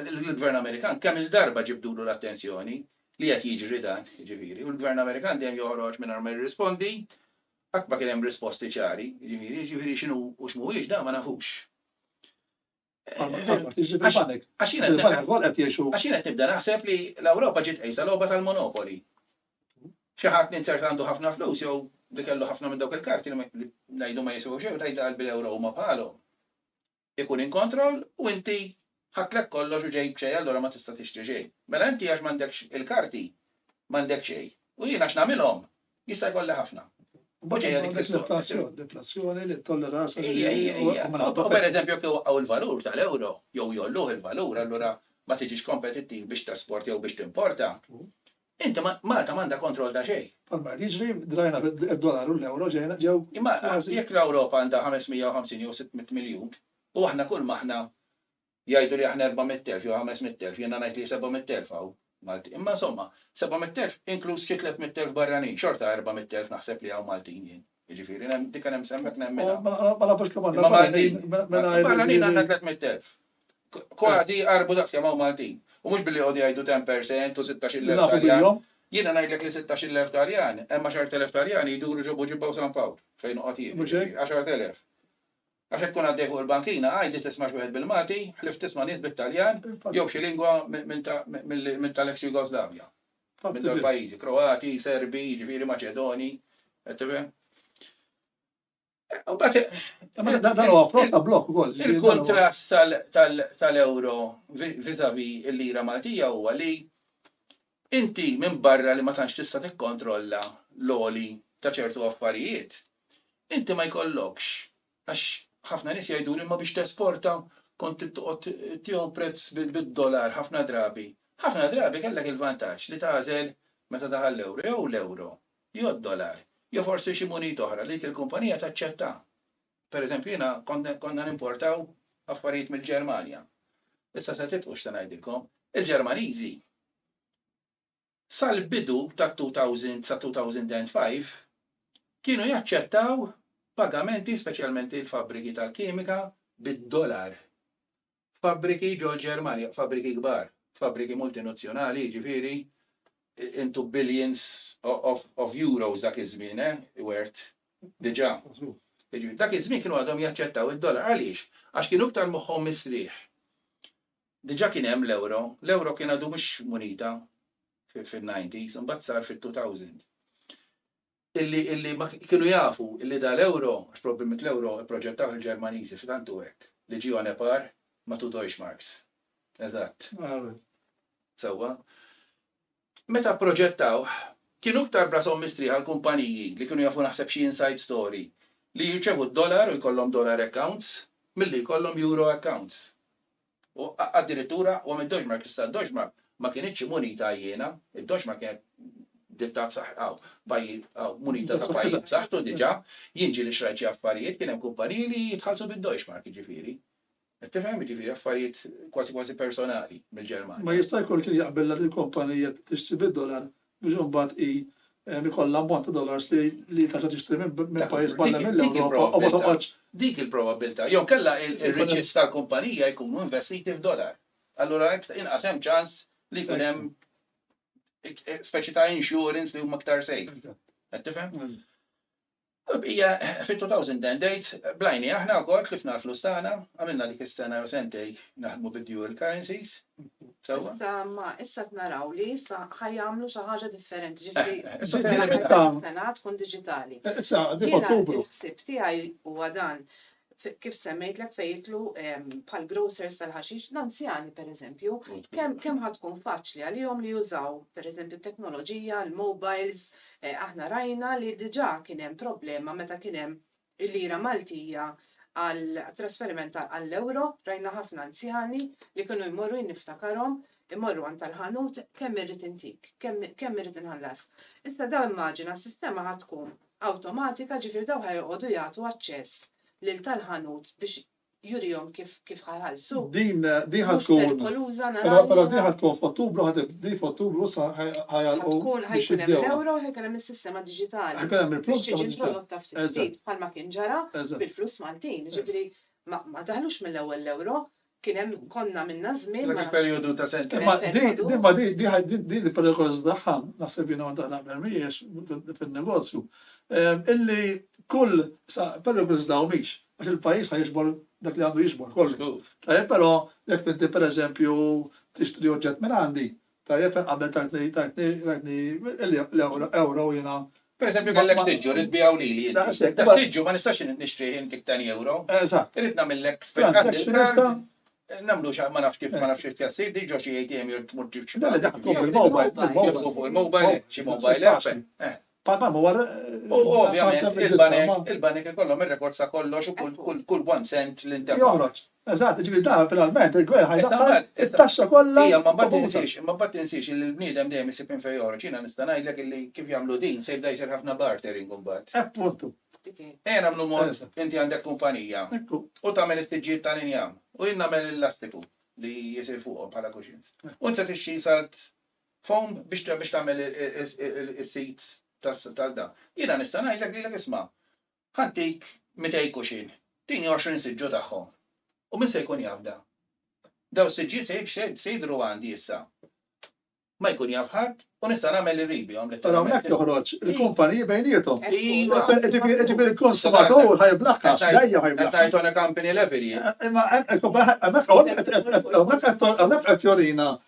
[SPEAKER 2] Il-Gvern Amerikan kemm-il darba ġibdulu l-attenzjoni li qed jiġri dan, jiġifieri, u l-Gvern Amerikan dejjem joħroġ mingħajr ma jirrispondi, qatt ma kien hemm risposti ċari, jiġifieri, jiġifieri x'inhu u x'mhuwiex dan ma nafux. Għax jiena qed nibda naħseb li l-Ewropa ġiet qejsa logħba tal-monopoli. Xi ħadd ninzert għandu ħafna flus jew li kellu ħafna minn dawk il-karti li ngħidu ma jiswew xejn tgħid qalbi l-ewro huma bħalhom. Ikun in kontroll u inti ħadtlek kollox u ġejk b'xejn allura ma tista' tixtri xejn. Mela inti għax m'għandekx il-karti m'għandek xejn. U jien għax nagħmilhom Jista' jkollha ħafna. Boġeja dik l-inflazzjoni.
[SPEAKER 1] L-inflazzjoni li tolleranza.
[SPEAKER 2] U per eżempju jekk iwaqqgħu l-valur tal-euro jew jolluh il-valur allura ma tiġix kompetittiv biex tesport jew biex timporta. Inti Malta m'għandha kontroll ta' xejn. Palma qed jiġri
[SPEAKER 1] drajna d-dolar u l-euro ġejna ġew. Imma jekk
[SPEAKER 2] l-Ewropa għandha 550 jew 600 miljun u aħna kull ma aħna Jgħidu li aħna erba' mitt elf jew ħames mitt elf, jiena ngħid li seba' mitt elf hawn Maltin. Imma insomma, seba' mitt elf inkluż xi tliet mitt elf barranin, xorta erba' mitt elf naħseb li hawn Maltin jien. Jiġifieri dik kemm hemm semmet nemminha. Ma nafux kemm għandna
[SPEAKER 1] barranin.
[SPEAKER 2] Barranin għandna tliet mitt elf. Kważi qarbu daqs kemm hawn Maltin. U mhux billi jqogħdu jgħidu ten per cent u sittax il elf Taljan. Jiena ngħidlek li sittax il elf Taljan, hemm għaxart elef Taljani jduru ġo Buġibba u San Pawl fejn noqgħod jien. Għaxart elef. Għax hekk tkun għaddej fuq il-bankina, għajdi tisma' xi wieħed bil-Malti, ħlief tisma' nies bit-Taljan jew xi lingwa minn tal-eks Jugoslavja. Minn dawn il-pajjiżi, Kroati, Serbi, jiġifieri Maċedoni, qed tifhem? Dan huwa
[SPEAKER 1] frott ta' blokk ukoll. Il-kuntrast
[SPEAKER 2] tal-euro vis-à-vis il-lira Maltija huwa li Inti minbarra li ma tantx tista' tikkontrolla l-għoli ta' ċertu affarijiet, inti ma jkollokx, għax ħafna nies jgħiduli imma biex tesporta kont trid toqgħod tieħu prezz bid-dolar ħafna drabi. Ħafna drabi kellek il-vantaġġ li tagħżel meta daħal l-ewro jew l-ewro jew d-dolar jew forsi xi munita oħra li dik il-kumpanija taċċetta. Pereżempju jiena konna nimportaw affarijiet mill-Ġermanja. Issa se titqu x'se ngħidilkom. Il-Ġermaniżi sal-bidu tat-2000 sa 2005 kienu jaċċettaw pagamenti speċjalment il-fabbriki tal-kimika bid-dolar. f'fabbriki ġol-Ġermanja, fabbriki kbar, fabbriki multinuzzjonali, jiġifieri into billions of euros dak iż-żmien, eh, Wert, diġà. Jiġifieri dak iż-żmien kienu għadhom jaċċettaw id-dollar. Għaliex? Għax kienu iktar moħħhom mistrieħ. Diġà kien hemm l-ewro, l-ewro kien għadu mhux munita fin-90s, imbagħad sar fit-2000. illi illi ma kienu jafu illi da l-euro, għax probbilment l-euro ipproġettawh il-Ġermaniżi f'xi tant hu hekk, li ġie on a par ma' two Deutschmarks. Eżatt. Sewwa. Meta pproġettawh, kienu iktar b'rashom mistrieħa l-kumpaniji li kienu jafu naħseb xi inside story li jirċevu d-dollar u jkollhom dollar accounts milli jkollhom euro accounts. U addirittura huwa mid-doġma, jekk issa d-doġma ma kinitx munita għajjiena, id-doġma kienet ditta b'saħħ hawn pajjiż hawn munita ta' pajjiż b'saħħtu diġà, jien ġieli xrajt xi affarijiet, kien hemm kumpaniji li jitħallsu bid-deutschmark jiġifieri. Qed tifhem jiġifieri affarijiet kważi kważi personali mill-Ġermanja. Ma jista' jkun kien
[SPEAKER 1] jaqbilha lill-kumpanija tixtri bid-dolar biex imbagħad hi ikollha ammont ta' dollars li li tarġa' tixtri minn minn pajjiż barra mill-Ewropa u ma toqgħodx Dik il-probabbiltà.
[SPEAKER 2] Jew kellha r-riċiets tal-kumpanija jkunu investiti f'dollar. Allura iktar inqas hemm ċans li jkun hemm speċi ta' insurance li huma iktar safe. Qed tifhem? Bqija fit-2010 date bl-għajnejn aħna wkoll tlifna l-flus tagħna, għamilna dik is-sena jew sentejn naħdmu bid-dual currencies sewwa. Iżda imma issa qed
[SPEAKER 3] naraw li issa ħa jagħmlu xi ħaġa differenti, ġifieri Issa din l-aħħar il-limit
[SPEAKER 2] ta' sena
[SPEAKER 3] tkun diġitali. Issa qegħdin f'Ottubru.
[SPEAKER 1] Jiena l-ħsieb tiegħi
[SPEAKER 3] huwa dan, kif semmejtlek fejn jidħlu bħal grocers tal-ħaxix, l-anzjani pereżempju, kemm ħa tkun faċli għalihom li jużaw pereżempju t-teknoloġija, l-mobiles, aħna rajna li diġà kien hemm problema meta kien hemm il-lira Maltija għat-trasferiment għall-ewro, rajna ħafna anzjani li kienu jmorru, jien niftakarhom, imorru għand tal-ħanut, kemm irrid intik, kemm irrid inħallas. Issa dawn immaġina s-sistema ħa tkun awtomatika, ġifieri dawn ħa joqogħdu jagħtu aċċess lil tal-ħanut biex jurihom kif kif ħa jħallsu. Din din ħa
[SPEAKER 1] Mhux tkun perikoluża Però però naraw. din ħa tkun f'Ottubru ħa tib- din f'Ottubru sa ħa ħa jagħlqu Tkun biex ħajkun hemm jibdewha.
[SPEAKER 3] l-ewro u ħajkun hemm is-sistema diġitali. Ħajkun hemm biex il-flus tiġi
[SPEAKER 1] introdotta ftit Eżatt.
[SPEAKER 3] ftit bħalma kien ġara Eżatt. bil-flus Maltin. Jiġifieri ma ma daħlux mill-ewwel l-ewro, Kien hemm konna
[SPEAKER 2] minna żmien ma nafx. Dak il-perjodu ta' sentejn. Imma
[SPEAKER 1] din ma din din il-perikolużità tagħha naħseb jiena waħda naqbel mhijiex fin-negozju. Illi kull sa perikolużità u mhix għax il-pajjiż ħa jiġbor dak li għandu jiġbor kollu. Żgur. Tajjeb però jekk inti pereżempju tixtri oġġett minn għandi Tajjeb fejn qabel tajtni tajtni tajtni l-euro jiena. Per eżempju kellek
[SPEAKER 2] tiġġu rrid tbigħu lili inti. Daqshekk. Taf tiġġu ma nistax nixtrih intik tani euro. Eżatt. Irrid nagħmillek
[SPEAKER 1] spend
[SPEAKER 2] għandi l-kard. Nagħmlu xi ma nafx kif ma nafx kif jassir dik ġo xi ATM jew tmur tġib xi. Le le dak tkun bil-mobile. Tkun bil-mobile. Xi mobile app.
[SPEAKER 1] Bħalma huwa r- U ovvjament
[SPEAKER 2] il-banek, il-banek ikollhom ir-rekords ta' kollox u kull, kull, kull one cent li ntefa'. Joħroġ. Eżatt,
[SPEAKER 1] jiġifieri dan finalment il-Gvern ħa jdaħħal it-taxxa kollha Ija, imma mbagħad dovuta. tinsiex,
[SPEAKER 2] imma mbagħad tinsiex illi l-bniedem dejjem isib minn fejn joħroġ. Jiena nista' ngħidlek illi kif jagħmlu din se jibda jsir ħafna bartering imbagħad. Appuntu.
[SPEAKER 1] Ejja nagħmlu
[SPEAKER 2] mod, Eżatt. inti għandek kumpanija Ekku. u tagħmel is-siġġijiet tal-injam u jien nagħmel il-lastiku li jsir fuqhom bħala cushions. U int se tixtri salt Foam biex tagħmel is-seats tal dan. Jiena nista' ngħidlek lilek isma', ħa ntik mitej kuxin, tini għoxrin siġġu tagħhom. U min se jkun jaf dan? Dawn is-siġġijiet se jidhru għandi issa. Ma jkun jaf ħadd u nista' nagħmel li rrid bihom. Però hawnhekk toħroġ
[SPEAKER 1] il-kumpaniji bejniethom. Jiġifieri l-konsumatur ħa jiblaħħax, dejjem ħa jiblaħħax. Qed ngħid on a company level
[SPEAKER 2] jien. Imma
[SPEAKER 1] hemmhekk hawnhekk qed jurina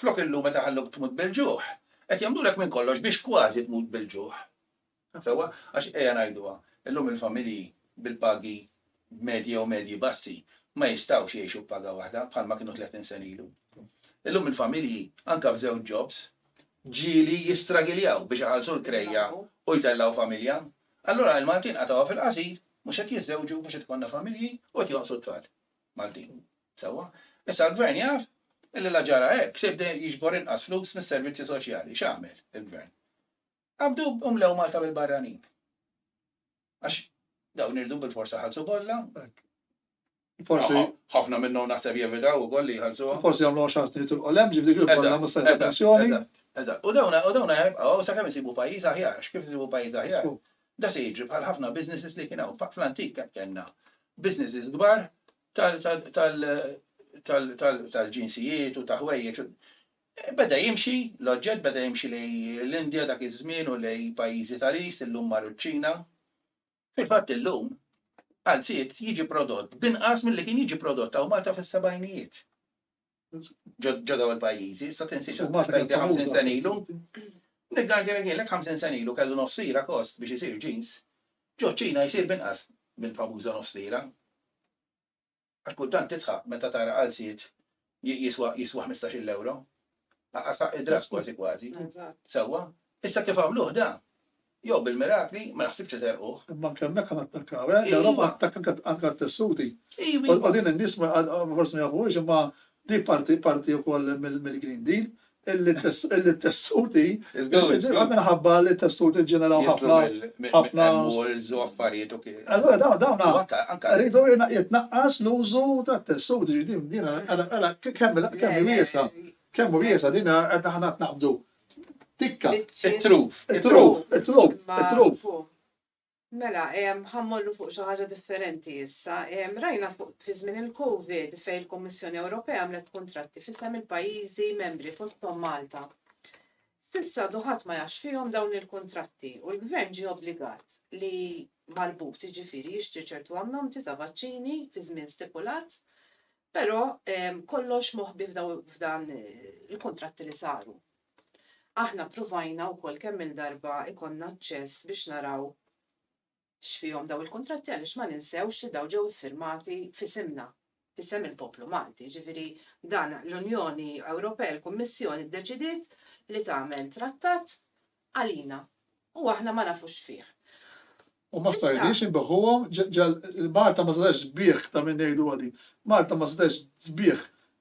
[SPEAKER 2] Flok illum qed iħalluk tmut bil-ġuħ, qed jagħmlulek minn kollox biex kważi tmut bil-ġuħ. Sewwa, għax ejja ngħiduha, illum il-familji bil-pagi medji jew medji bassi ma jistgħux jgħixu b'paga waħda bħalma kienu tletin sena ilu. Illum il-familji, anke b'żewġ jobs, ġieli jistragiljaw biex iħallsu l-krejja u jtellgħu familja. Allura il-Maltin qatgħuha fil-qasir, mhux qed jiżżewġu, mhux qed ikollna familji u qed jonqsu t-tfal. Maltin. Sewwa? Issa l-Gvern jaf illi la ġara hekk, se jibda jiġbor inqas flus mis-servizzi soċjali. X'għamel il-Gvern? Qabdu u mlew Malta bil-barranin. Għax dawn irdu bil-forsa ħalsu kollha.
[SPEAKER 1] Forsi. ħafna minnhom
[SPEAKER 2] naħseb jevitaw ukoll li jħallsu. Forsi jagħmlu xans trid
[SPEAKER 1] il-qolem ġifdi kif kollha mhux se attenzjoni. Eżatt. U dawna
[SPEAKER 2] u dawna jibqgħu sakemm isibu pajjiż aħjar, x'kif isibu pajjiż aħjar. Da se jiġri bħal ħafna businesses li kien hawn fl-antik kemm kellna businesses kbar tal-ġinsijiet u ta' ħwejjeġ. Beda jimxi, l-oġġett beda jimxi lejn l-Indja dak iż-żmien u lejn pajjiżi tal-East, illum mar iċ-Ċina. Fil-fatt illum, qalziet jiġi prodott b'inqas milli kien jiġi prodott hawn Malta fis-sebgħinijiet. ġo daw il-pajjiżi, issa tinsiex li mhux tajbi 50 sen
[SPEAKER 1] ilu. Nigganti li kienlek
[SPEAKER 2] 50 sen ilu kellu nofsira kost biex isir ġins, ġo ċina jsir binqas mill-famuża nofsira. Għax kultant tidħaq meta tara qalziet jiswa jiswa 15-il ewro. Aqas ħaq id-drass kważi kważi. Sewwa,
[SPEAKER 3] issa
[SPEAKER 2] kif għamluh da? Jew bil-mirakli, ma naħsibx li serquh. Imma anke hemmhekk ħa nattakkaw,
[SPEAKER 1] eh? L-Ewropa attakka anke anke għat-tessuti. Iva, iva. U din
[SPEAKER 2] in-nies ma għad
[SPEAKER 1] forsi ma jafuhiex imma di parti parti wkoll mill- mill-Green Deal illi t-tess- illi t-tessuti Żgur, żgur. anke minħabba li t-tessuti ġġeneraw Jitlu ħafna mill- mill- ħafna- mill-malls u
[SPEAKER 2] affarijiet u kif. Allura dawn dawn U anke,
[SPEAKER 1] anke. rridu jina-
[SPEAKER 2] jitnaqqas
[SPEAKER 1] l-użu tat-tessuti, ġifieri din din għala għala kemm il- kemm hi wiesgħa, kemm hu wiesgħa din għad aħna qed naqbdu. Tikka, it-truf,
[SPEAKER 2] it-truf, it-truf,
[SPEAKER 1] it-truf.
[SPEAKER 3] Mela, ħammollu fuq xi ħaġa differenti issa. Rajna fuq fi żmien il-COVID fejn il-Kummissjoni Ewropea għamlet kuntratti fissem il-pajjiżi membri fosthom Malta. Sissa duħat ma jax fihom dawn il-kuntratti u l-gvern ġie obbligat li marbut ġifiri jixtri ċertu ammonti ta' vaċċini fi żmien stipulat Però kollox moħbi f'dan il-kuntratti li saru. Aħna ppruvajna wkoll kemm-il darba jkollna aċċess biex naraw x'fihom dawn il-kuntratti għaliex ma ninsewx li dawn ġew iffirmati f'isimna, f'isem il-poplu Malti. Jiġifieri dan l-Unjoni Ewropea, il-Kummissjoni ddeċidiet li tagħmel trattat għalina u aħna ma nafux fih. U ma
[SPEAKER 1] stajniex inbigħuhom ġal Malta ma setax tbigħ ta' min ngħiduha din. Malta ma setax tbigħ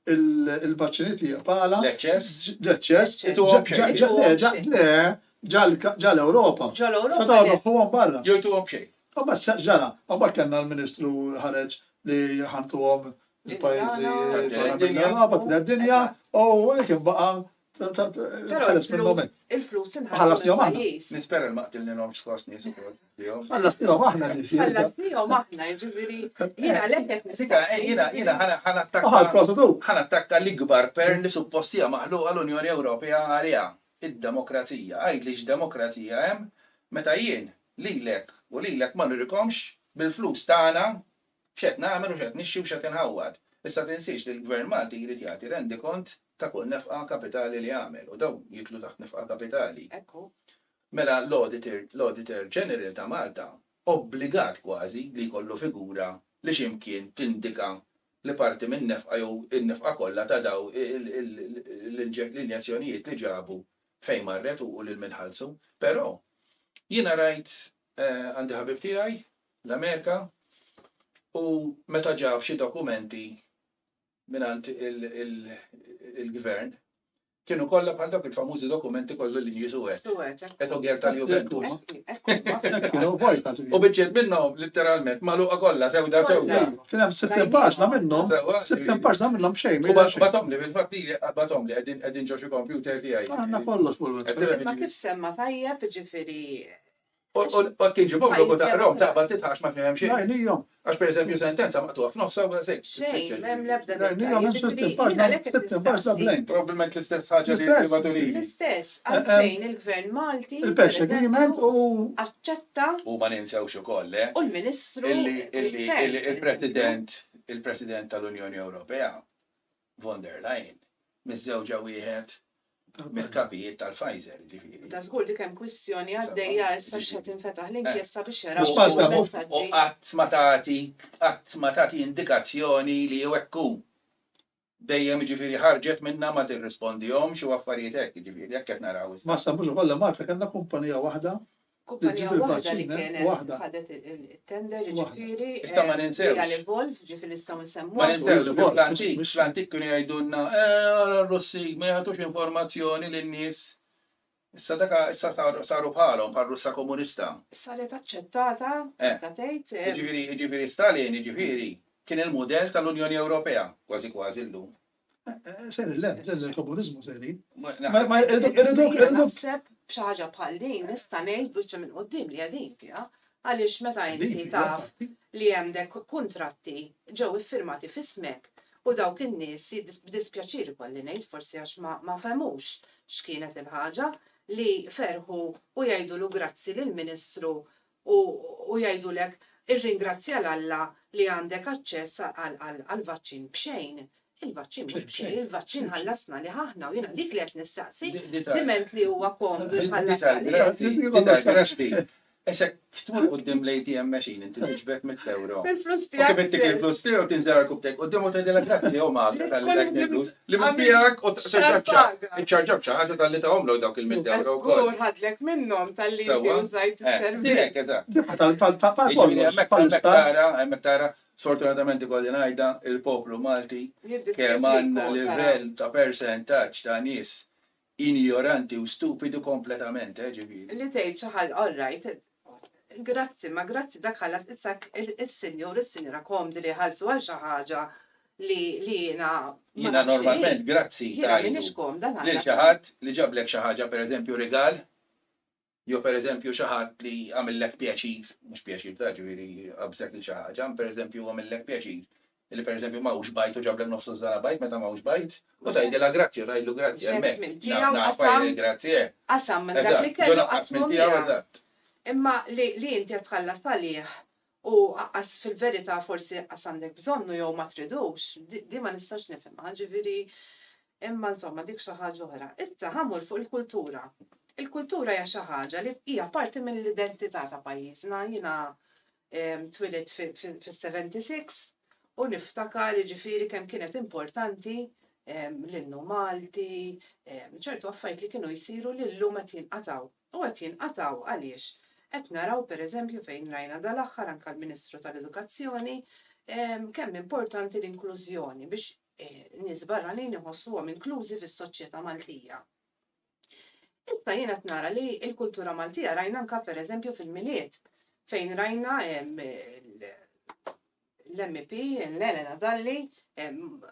[SPEAKER 1] il-vaċċini tiegħek bħala L-eċċess? L-eċċess.
[SPEAKER 2] Ituhom b'xejn. Ġa- ġa- ġa-
[SPEAKER 1] ġa- Le, ġal- ġal-Ewropa. Ġol-Ewropa, Setgħu le.
[SPEAKER 3] jbigħuhom barra.
[SPEAKER 1] Jew
[SPEAKER 3] ituhom
[SPEAKER 1] b'xejn. U
[SPEAKER 2] mbagħad xa- x'ġara?
[SPEAKER 1] U mbagħad kellna l-Ministru ħareġ li ħantuhom il-pajjiżi Tat-tielet barra dinja. mill-Ewropa, t-tielet dinja, u dik imbaqa' Però il-flus inħallas
[SPEAKER 3] njom aħna.
[SPEAKER 1] Nispera ma qtilnilhom
[SPEAKER 2] skos nies ukoll. Ħallas njom aħna li fih.
[SPEAKER 3] Ħallas njom
[SPEAKER 2] aħna, jiġifieri jiena lek qed
[SPEAKER 1] nisika. Jiena jiena ħana attakka. Ħana attakka l-ikbar
[SPEAKER 2] per li suppostija maħluqa l-Unjoni Ewropea għaliha id-demokrazija. Għidli x'demokrazija hemm meta jien lilek u lilek ma nurikomx bil-flus tagħna X'qed nagħmel u x'qed nixtri u x'qed inħawwad. Issa tinsiex li l-Gvern Malti jrid jagħti rendikont ta' kull nefqa kapitali li għamel u dawn jidħlu taħt nefqa kapitali. Hekk hu.
[SPEAKER 3] Mela
[SPEAKER 2] l-Auditor l-Auditor General ta' Malta obbligat kważi li jkollu figura li xi mkien tindika li parti min-nefqa jew in-nefqa kollha ta' daw l-injezzjonijiet li ġabu fejn marret u lil min ħallsu. Però jiena rajt għandi ħabib tiegħi l-Amerika u meta ġab xi dokumenti mingħand il-gvern kienu kollha bħal dawk il-famużi dokumenti kollu li jisu għet. Għet u għer tal-Juventus. Kienu vojta. U bieċiet minnom, literalment, maluqa kollha sewda sewda. Kien hemm sittin paġna
[SPEAKER 1] minnhom, sittin paġna minnhom xejn. U batom li fil-fatt
[SPEAKER 2] li batom li qegħdin qegħdin ġo xi kompjuter tiegħi. Għandna kollox fuq il-website.
[SPEAKER 1] Ma kif semma
[SPEAKER 3] tajjeb ġifieri
[SPEAKER 2] U tiġi boblu u taqrom taqbad titħax ma fihemx. Najnijom. Għax per eżempju
[SPEAKER 1] sentenza
[SPEAKER 2] maqtuħ f'nofsa u għasek. Xejn, mem lebda. Najnijom għax sistem
[SPEAKER 3] paġna,
[SPEAKER 1] sistem paġna blank. Probabilment l-istess ħagġa
[SPEAKER 2] li l-privaturi. L-istess,
[SPEAKER 3] għalfejn il-gvern Malti. Il-pesh agreement
[SPEAKER 1] u. Aċċetta.
[SPEAKER 3] U ma ninsewx
[SPEAKER 2] u koll, le? U l-ministru.
[SPEAKER 3] Il-president,
[SPEAKER 2] il-president tal-Unjoni Ewropea. Von der Leyen, miżżewġa wieħed mill-kapijiet tal-Pfizer, jiġifieri. Ta' żgur dik hemm
[SPEAKER 3] kwistjoni għaddejja issa x'se tinfetaħ l-inkjesta biex jaraw il-messaġġi. U qatt ma tagħti
[SPEAKER 2] qatt ma tagħti indikazzjoni li jew hekk hu. Dejjem jiġifieri ħarġet minnha ma tirrispondihomx u affarijiet hekk, jiġifieri hekk qed naraw issa. Ma stabux ukoll li Malta kellna
[SPEAKER 1] kumpanija waħda
[SPEAKER 3] Kumpanija waħda li kienet ħadet
[SPEAKER 2] it-tender,
[SPEAKER 3] jiġifieri Real Evolve, jiġifieri nistgħu
[SPEAKER 2] nsemmuha.
[SPEAKER 3] Ma ninsewx li fl-antik,
[SPEAKER 2] fl-antik kienu jgħidulna, ara r-Russi ma jagħtux informazzjoni lin-nies. Issa dak, issa saru bħalhom, bħar-Russja Komunista. Saret aċċettata,
[SPEAKER 3] tista' tgħid. Jiġifieri, jiġifieri Stalin,
[SPEAKER 2] jiġifieri, kien il-mudell tal-Unjoni Ewropea, kważi kważi llum. Seri,
[SPEAKER 1] le, le, komunizmu seri. Ma
[SPEAKER 3] Naħseb b'xaħġa bħal din nista' ngħid biċċa minn qudiem li għadin fiha għaliex meta inti taf li għandek kuntratti ġew iffirmati f'ismek u dawk in-nies b'dispjaċir ikolli ngħid forsi għax ma fehmux x'kienet il-ħaġa li ferħu u jgħidulu grazzi lill-Ministru u u jgħidulek irringrazzja 'l Alla li għandek aċċess għall-vaċċin b'xejn. Il-vaċċin mhux b'xejn, il-vaċċin ħallasna lih aħna u jiena dik li qed nistaqsi, diment li huwa komdu jħallasna lih. Dita l-grass
[SPEAKER 2] di. Issa kif tmur quddiem l-ATM machine inti tiġbed mitt ewro. Il-flus tiegħek. Kif ittik
[SPEAKER 3] il-flus
[SPEAKER 2] tiegħu tinżel għall-kub tiegħek quddiem u tgħidilek dak tiegħu Malta tal-flus. Li mhux tiegħek u tiċċarġabx iċċarġab xi ħaġa talli tagħhomlok dawk il-mitt ewro wkoll. Żgur ħadlek minnhom
[SPEAKER 3] talli inti
[SPEAKER 2] użajt is-servizz. Hemmhekk tara, hemmhekk tara, sfortunatament ikolli ngħidha, il-poplu Malti kemm għandna livell ta' persentaġġ ta' nies Injoranti u stupidu kompletament, eh, ġifieri. Li tgħid xi ħaġ, all
[SPEAKER 3] right, grazzi, ma grazzi dak ħallas isak is-sinjur u s-sinjura komdi li jħallsu għal xi ħaġa li jiena ma nafx. Jiena normalment
[SPEAKER 2] grazzi tgħidu
[SPEAKER 3] lil xi ħadd li
[SPEAKER 2] ġablek xi ħaġa, pereżempju rigal, Jew pereżempju xi ħadd li għamillek pjaċir, mhux pjaċir ta' ġifieri qabżek lil xi ħaġa, imma pereżempju għamillek pjaċir li pereżempju ma hux bajt u ġablek nofs użżana bajt meta ma hux bajt u tgħidilha grazzi jew tgħidlu grazzi hemmhekk. Nagħrfha jien il-grazzi eh. Qasam minn dak
[SPEAKER 3] li kellu qasmu miegħek.
[SPEAKER 2] Imma
[SPEAKER 3] li inti qed tħallas għalih U aqqas fil-verità forsi aqqas għandek bżonnu jew ma tridux, din ma nistax nifhimha, ġifieri imma insomma dik xi ħaġa oħra. Issa ħa mmur fuq il-kultura. Il-kultura hija xi ħaġa li hija parti mill-identità ta' pajjiżna. Jiena twilidt fis-76 u niftakar jiġifieri kemm kienet importanti l-innu Malti, ċertu affarijiet li kienu jsiru li llum qed jinqatgħu. u qed jinqatgħu għaliex qed naraw pereżempju fejn rajna dal-aħħar anke l-Ministru tal-Edukazzjoni kemm importanti l-inklużjoni biex in-nies barranin iħossuhom inklużi fis-soċjetà Maltija. Issa jien qed nara li l-kultura Maltija rajna anke pereżempju fil-Milied fejn rajna l-MEP, l-Elena Dalli,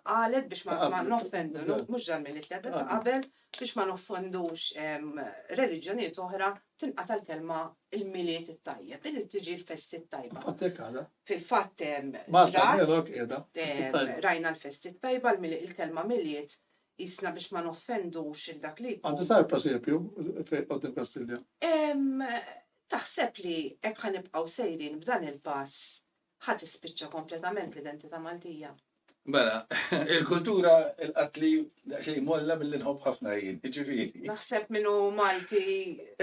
[SPEAKER 3] qalet biex ma noffendu, mux dan mill ta' qabel, biex ma noffendux reliġjoniet oħra tinqa tal-kelma il-miliet it-tajjeb, il tiġi l-festi t-tajba. Fil-fat, rajna l-festi t-tajba, il-kelma miliet jisna biex ma noffendux dak li. Għanti sar prosepju
[SPEAKER 1] fej għoddim Kastilja?
[SPEAKER 3] Taħseb li ekħan ibqaw sejrin b'dan il-pass Ħa tispiċċa kompletament l-identità Maltija. Mela,
[SPEAKER 2] il-kultura il-qatli xej molla billi nħobb ħafna jien, ġifiri. Naħseb minnu
[SPEAKER 3] Malti.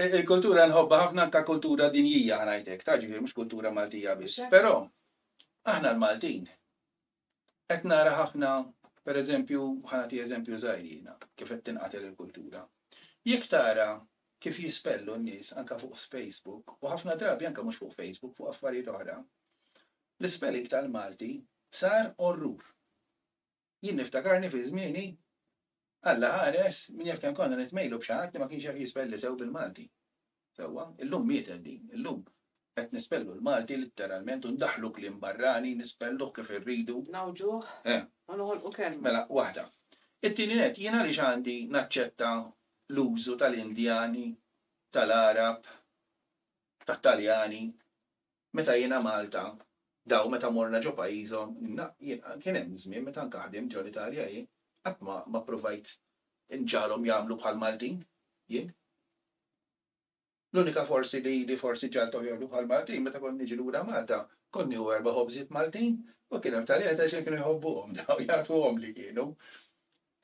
[SPEAKER 3] Il-kultura
[SPEAKER 2] nħobba ħafna anka kultura dinjija ħanajtek, ta' ġifiri, mux kultura Maltija biss. Pero, aħna l-Maltin, Qed nara ħafna, pereżempju, ħa nagħti eżempju żgħir jiena, kif qed tinqatel il-kultura. Jekk tara kif jispellu n-nies anke fuq Facebook, u ħafna drabi anke mhux fuq Facebook, fuq affarijiet oħra, l-ispelling tal-Malti sar orrur. Jien niftakarni fi żmieni Alla ħares minn jekk tant konna nitmejlu b'xi ħadd li ma kienx jaf jispelli sew bil-Malti. Sewwa, illum mietet din. Illum qed nispellu l-Malti litteralment u ndaħħlu kliem barrani, nispelluh kif irridu. Ngħawġuh
[SPEAKER 3] u noħolqu kelma. Mela, waħda.
[SPEAKER 2] It-tieni nett, jien għaliex għandi naċċetta l-użu tal-Indjani, tal-Għarab, tat-Taljani, Meta jiena Malta, daw meta morna ġo pajjiżhom, kien hemm żmien meta anke ħdimt ġo l-Italja jien, qatt ma ma ppruvajt inġagħalhom jagħmlu bħal Maltin jien. L-unika forsi li li forsi ġagħalthom jagħmlu bħal Maltin meta kont niġi lura Malta, kont nieħu erba' ħobżiet Maltin u kien hemm Taljani ta' xejn kienu jħobbuhom daw jagħtuhomli kienu.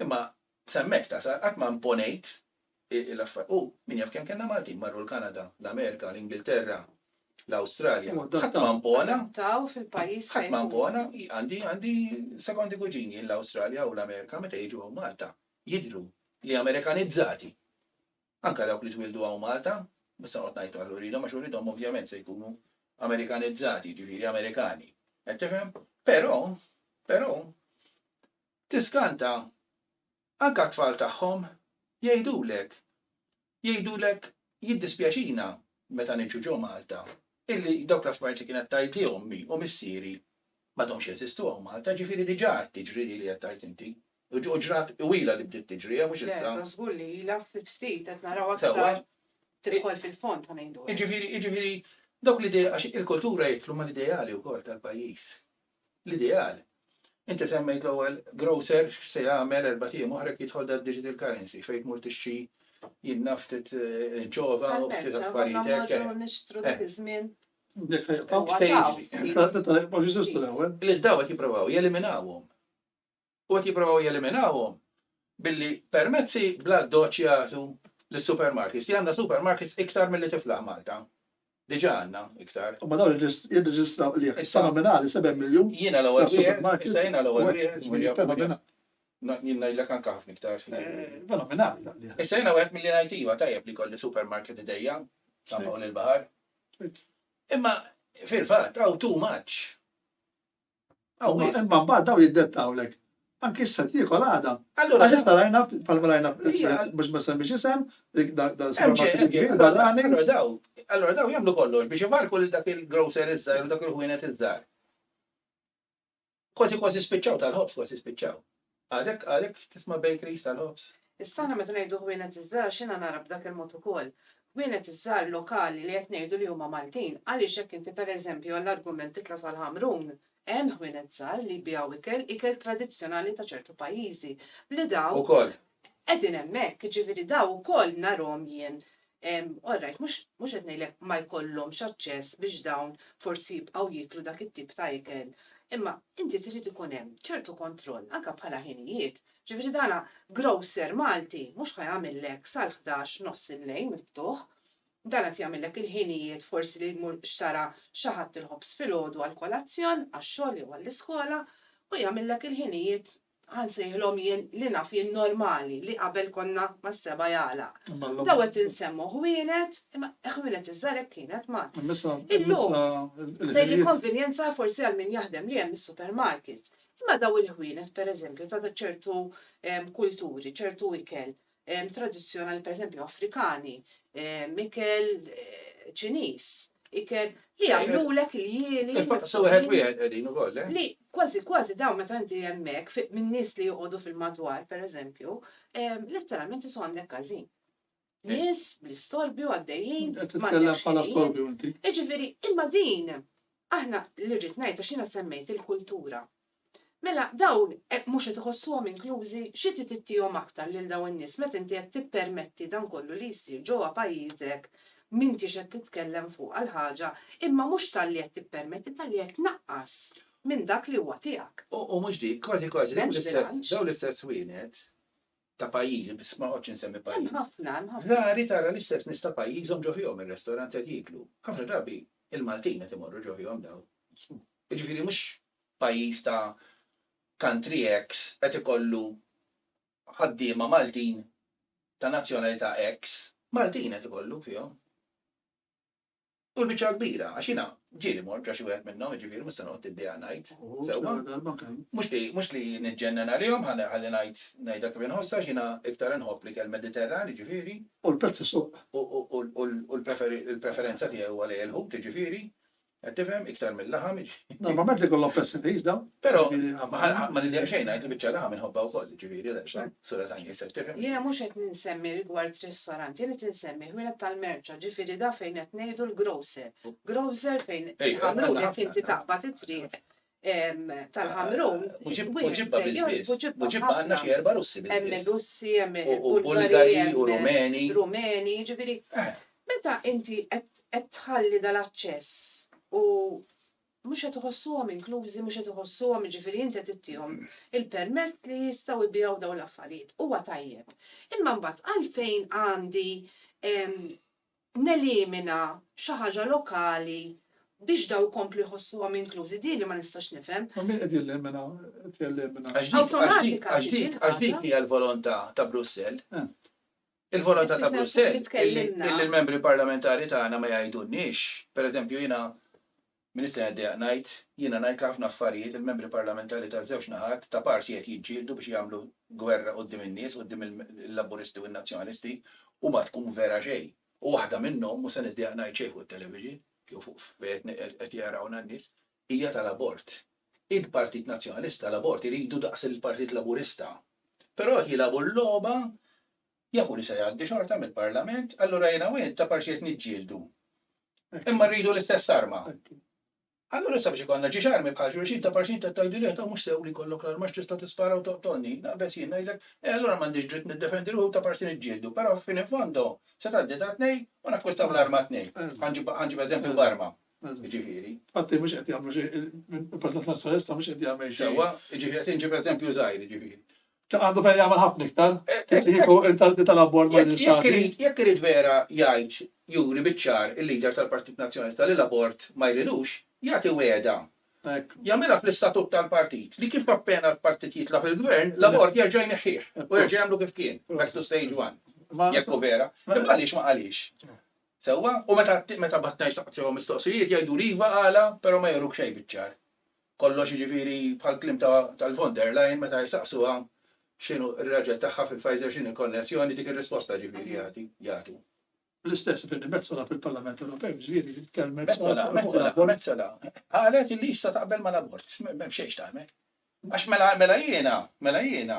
[SPEAKER 2] Imma sa hemmhekk tasal, qatt ma imponejt l-affarijiet. U min jaf kemm kellna Maltin marru l-Kanada, l-Amerika, l-Ingilterra, l-Awstralja. Ħadd ma impona.
[SPEAKER 3] Ħadd ma impona.
[SPEAKER 2] Għandi għandi sekondi kuġini l-Awstralja u l-Amerika meta jiġu hawn Malta jidhru li Amerikanizzati. Anke dawk li twildu hawn Malta, mhux se noqgħod ngħid għal uridhom għax uridhom ovvjament se jkunu Amerikanizzati, jiġifieri Amerikani. Qed tifhem? Però, però, Tiskanta, anke t-tfal tagħhom jgħidulek, jgħidulek jiddispjaċina meta niġu ġo Malta illi dawk l-affarijiet li kienet tgħidli ommi u missieri m'għadhomx jeżistu hawn Malta, ġifieri diġà qed tiġri di li qed tgħid inti, u ġrat twila li bdiet tiġri, eh mhux issa. Le, żgur li ilha ftit
[SPEAKER 3] ftit qed naraw aktar tidħol fil-fond ta' ngħidu hekk. Jiġifieri, jiġifieri
[SPEAKER 2] dawk l-idea, għax il-kultura jidħlu mal-ideali wkoll tal-pajjiż. L-ideal? Inti semmejt l-ewwel grocer x'se jagħmel erbat ijiem oħra jekk jidħol dad-digital currency fejn tmur tixtri jien naf ftit inċova u ftit affarijiet hekk.
[SPEAKER 3] Tal-merċa, nixtru
[SPEAKER 2] dak iż-żmien.
[SPEAKER 3] Dik
[SPEAKER 1] fejn jibqgħu.
[SPEAKER 2] Dik fejn
[SPEAKER 3] jiġri.
[SPEAKER 1] Li d-dgħawet jipprovaw
[SPEAKER 2] jeliminawhom. u qed jipprovaw jeliminawhom billi permezzi bl-addoċċ jagħtu lis-supermarkets, li għandna supermarkets iktar milli tiflaħ Malta. Diġà għandna iktar. Imma dawn
[SPEAKER 1] jirreġistraw qligħ fenomenali, seba' miljun ta' supermarkets. Issa jiena l-ewwel
[SPEAKER 2] wieħed, issa jiena
[SPEAKER 1] l-ewwel
[SPEAKER 2] wieħed.
[SPEAKER 1] Jien ngħidlek
[SPEAKER 2] anke ħafna iktar. Fenomenali
[SPEAKER 1] dan qligħ. Issa jiena wieħed milli ngħid iva
[SPEAKER 2] tajjeb li jkolli supermarket idejja ta' hawn il-baħar. Imma fil-fatt hawn too much.
[SPEAKER 1] Imma mbagħad daw jiddettawlek. Anki issa tiekol għada. Allura għax issa rajna
[SPEAKER 2] bħal
[SPEAKER 1] rajna biex ma semmix
[SPEAKER 2] isem
[SPEAKER 1] dan supermarket kbir barrani. Allura daw, allura daw
[SPEAKER 2] jagħmlu kollox biex ivarku lil dak il-grocer iżżar u dak il-ħwienet iżżar. Kważi kważi spiċċaw tal-ħobs kważi spiċċaw. Għadek, għadek tisma' bakeries tal-ħobż? Issa aħna meta ngħidu
[SPEAKER 3] ħwienet iż-żgħar x'jiena nara b'dak il-mod ukoll? Ħwienet iż-żgħar lokali li qed ngħidu li huma Maltin għaliex jekk inti pereżempju għall-argument titla' sal-Ħamrun hemm ħwienet żgħar li jbigħu ikel, ikel tradizzjonali ta' ċertu pajjiżi li dawn qegħdin
[SPEAKER 2] hemmhekk,
[SPEAKER 3] jiġifieri dawn ukoll narhom jien All right, mhux qed ngħidlek ma jkollhomx aċċess biex dawn forsi jibqgħu jieklu dak it-tip ta' ikel, imma inti trid ikun hemm ċertu kontroll anke bħala ħinijiet. Ġifieri dan grocer Malti mhux ħa jagħmillek sal-ħdax nofs il-lejl miftuħ, dan qed jagħmillek il-ħinijiet forsi li jmur xtara xi ħadd il-ħobż filgħodu għall-kolazzjon, għax-xogħol jew għall-iskola, u jagħmillek il-ħinijiet Ħa nsejħilhom jien li naf jien normali, li qabel konna mas-seba' jagħlaq. Dawn qed insemmu ħwienet, imma ħwienet iż-żgħar hekk kienet ma. Illum tgħidli konvenjenza forsi għal min jaħdem li hemm is-supermarkets. Imma dawn il-ħwienet pereżempju ta' ċertu kulturi, ċertu ikel, tradizzjonali pereżempju Afrikani, ikel Ċiniż, ikel li jagħmlulek il-jieli. Sew wieħed wieħed
[SPEAKER 2] qegħdin ukoll. Eh? Li kważi kważi
[SPEAKER 3] dawn meta inti hemmhekk minn nies li joqogħdu fil-madwar pereżempju, letteralment isu għandek każin. Eh. Nies bl-istorbju għaddejjin. Titkellem bħala
[SPEAKER 1] storbju inti. Iġifieri, imma
[SPEAKER 3] din Aħna, li rrid ngħid għax jiena semmejt il-kultura. Mela dawn mhux qed iħossuhom inklużi? Xi trid ittihom aktar lil dawn in-nies meta inti qed tippermetti dan kollu li jsir ġewwa pajjiżek m'intix qed titkellem fuqha l-ħaġa imma mhux talli qed tippermetti talli qed tnaqqas minn dak li huwa tiegħek. U mhux dik, kważi
[SPEAKER 2] kważi dawn l-istess wienet ta' pajjiżi, biss ma noqgħodx insemmi pajjiżi. Hemm ħafna, hemm
[SPEAKER 3] ħafna.
[SPEAKER 2] Rari
[SPEAKER 3] tara l-istess nies
[SPEAKER 2] ta' pajjiżhom ġo fihom ir-restorant qed jieklu. Ħafna drabi il-Maltin qed imorru ġo fihom dawn. Jiġifieri mhux pajjiż ta' country X qed ikollu ħaddiema Maltin ta' nazzjonalità X. Maltin qed ikollu fihom. U l-biċċa kbira, għax jiena ġieli mort ġa xi wieħed minnhom, jiġifieri mhux se noqgħod tiddejja ngħid. Sewwa. Mhux li mhux li niġġennan għalihom ħalli ngħid ngħidha kif inħossha għax jiena iktar inħobb l-ikel Mediterran, jiġifieri. U l-prezz isuq.
[SPEAKER 1] U
[SPEAKER 2] l-preferenza tiegħi huwa lejn il-ħut, jiġifieri. Qed tifhem? Iktar mill-laħam, jiġifieri. Normalment ikollhom
[SPEAKER 1] prezz irħis dawn. Però
[SPEAKER 2] ma nidejjaq xejn ngħid li biċċa laħam inħobbha wkoll, jiġifieri, Sura ta' nies qed tirrepeti. Jiena mhux qed insemmi
[SPEAKER 3] rigward ristorant, jien qed insemmi ħwienet tal-merċa, ġifieri dak fejn qed ngħidu l-grocer. Grocer fejn il-ħamrun jekk inti taqbad it-triq tal-ħamrun. Buġibba biss. Buġibba
[SPEAKER 2] għandna xi erba' Russi biss. Hemm Russi, hemm
[SPEAKER 3] Bulgari, hemm
[SPEAKER 2] Rumeni. Rumeni, ġifieri.
[SPEAKER 3] Meta inti qed tħalli dal-aċċess u Mhux qed iħossuhom inklużi, mhux qed iħossuhom, jiġifieri inti qed ittihom il-permess li jistgħu jbigħu dawn l-affarijiet. Huwa tajjeb. Imma mbagħad għalfejn għandi nelimina xi ħaġa lokali biex dawn ikomplu jħossuhom inklużi? Din li ma nistax nifhem. U min qed jelimina,
[SPEAKER 1] qed jelimina? Awtomatika
[SPEAKER 3] tiġi l-ħaġa. Għax dik hija
[SPEAKER 2] l-volontà ta' Brussell. Il-volontà ta' Brussell illi l-Membri Parlamentari tagħna ma jgħidulniex, pereżempju jiena minn issa neddejjaq ngħid, jiena ngħid ħafna affarijiet, il-Membri Parlamentari taż-żewġ naħat ta' parsi qed jiġġieldu biex jagħmlu gwerra quddiem in-nies, quddiem il-Laburisti u n-Nazzjonalisti u ma tkun vera xejn. U waħda minnhom, mhux se neddejjaq ngħid xejn fuq it-television jew fuq fejn qed jarawna n-nies, Hija tal-abort. Il-Partit Nazzjonalista l-abort iridu daqs il-Partit Laburista. Però qed jilagħbu l-logħba, jafu li se jgħaddi xorta mill-Parlament, allura jiena u int ta' parsi qed niġġieldu. Imma rridu l-istess arma. Allura sabiex ikollna ġiex armi bħal xulxin ta' parsi int qed tgħidli le, ta' mhux sew li jkollok l-arma għax tista' tispara u toqtolni. Naqbeż jien, ngħidlek, eh allura m'għandix dritt niddefendi ruħi u ta' parsi niġġieldu. Però fin in fondo se tgħaddi ta' tnej u nakkwistaw l-arma t-tnejn. Ħa nġib eżempju b'arma. Jiġifieri. Infatti mhux qed
[SPEAKER 1] jagħmlu xejn, il-Partit Nazzjonalista mhux qed jagħmel xejn. Sewwa, jiġifieri qed inġib
[SPEAKER 2] eżempju żgħir, jiġifieri. Għandu fejn jagħmel
[SPEAKER 1] ħafna iktar, kieku il-talbi tal-abbord ma Jekk irid vera
[SPEAKER 2] jgħid juri biċ-ċar il-leader tal-Partit Nazzjonalista li l-abort ma jridux, jagħti wegħda. Jagħmilha fl-istatut tal-partit li kif appena l-partit jitla' fil-gvern, l-abort jerġa' jneħħih u jerġa' jagħmlu kif kien, back to stage one. Jekk hu vera. Imma għaliex ma qalix? Sewwa, u meta, meta b'għadd ngħid saqsihom mistoqsijiet jgħiduli iva, għala, però ma juruk xejn biċ-ċar. Kollox jiġifieri bħall-kliem ta' tal-von der Leyen meta jsaqsuha x'inhu r-raġel tagħha fi Pfizer x'inhi l-konnessjoni dik ir-risposta jiġifieri jagħti, jagħtu. L-istess
[SPEAKER 1] Billy Metsola fil-Parlament Ewropew jiġifieri li tkellmet. Metsola, Metsola, Metsola
[SPEAKER 2] qalet li issa taqbel mal-abort, m'hemm xejn x'tagħmel. Għax mela, mela jiena, mela jiena,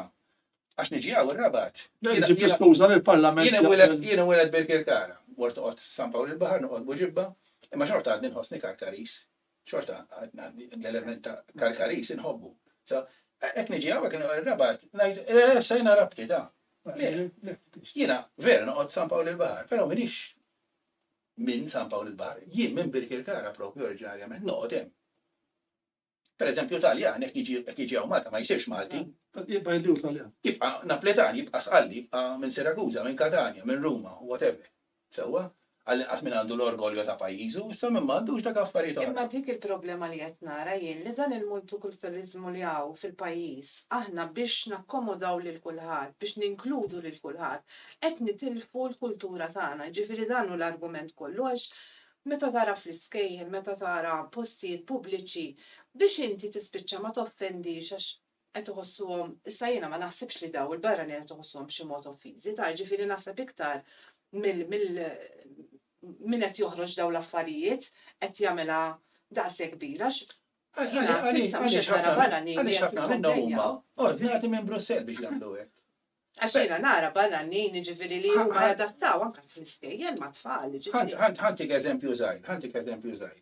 [SPEAKER 2] għax niġi hawn ir-Rabat. Jiena ġibt l-iskuża li
[SPEAKER 1] l-Parlament. Jiena wieled, jiena wieled
[SPEAKER 2] Birkirkara, mort noqgħod San Pawl il-Baħar, noqgħod Buġibba, imma xorta għadni nħossni Karkaris. Xorta għadni l-element ta' Karkaris inħobbu. So, hekk niġi hawn hekk ir-Rabat, ngħid, eh, se jiena rabti da. Jiena vera noqgħod San Pawl il-Baħar, però minix minn San Pawl il-Baħar. Jien minn Birkirkara propju oriġinarjament noqgħod hemm. Per eżempju Taljan jekk jiġi jekk jiġi hawn Malta ma jsirx Malti. Jibqa' jidhru
[SPEAKER 1] Taljan. Jibqa' Napoletan,
[SPEAKER 2] jibqa' Sqalli, jibqa' minn Siraguża, minn Katanja, minn Ruma, whatever. Sewwa? Għall-inqas min għandu l-orgoljo ta' pajjiżu, issa min m'għandux dak affarijiet oħra. Imma dik il-problema li
[SPEAKER 3] qed nara jien li dan il-multikulturaliżmu li hawn fil-pajjiż, aħna biex nakkomodaw lil kulħadd, biex ninkludu lil kulħadd, qed nitilfu l-kultura tagħna. Jiġifieri dan hu l-argument kollu għax meta tara fl-iskejjel, meta tara postijiet pubbliċi, biex inti tispiċċa ma toffendix għax qed iħossuhom, issa jiena ma naħsibx li daw il-barranin qed iħossuhom b'xi mod offiżi, tara, jiġifieri naħseb iktar mill, mill, min qed joħroġ dawn l-affarijiet qed jagħmilha daqshekk kbira għax jiena s'issa
[SPEAKER 2] mhux qed nara barranin li qed jikkumplejjaw. Għaliex ħafna minnhom huma ordnati minn Brussell biex jagħmlu hekk. Għax jiena
[SPEAKER 3] nara barranin jiġifieri li huma jadattaw anke fl-iskejjel ma' tfal jiġifieri. Ħadd ħadtik eżempju
[SPEAKER 2] żgħir, ħadtik eżempju żgħir.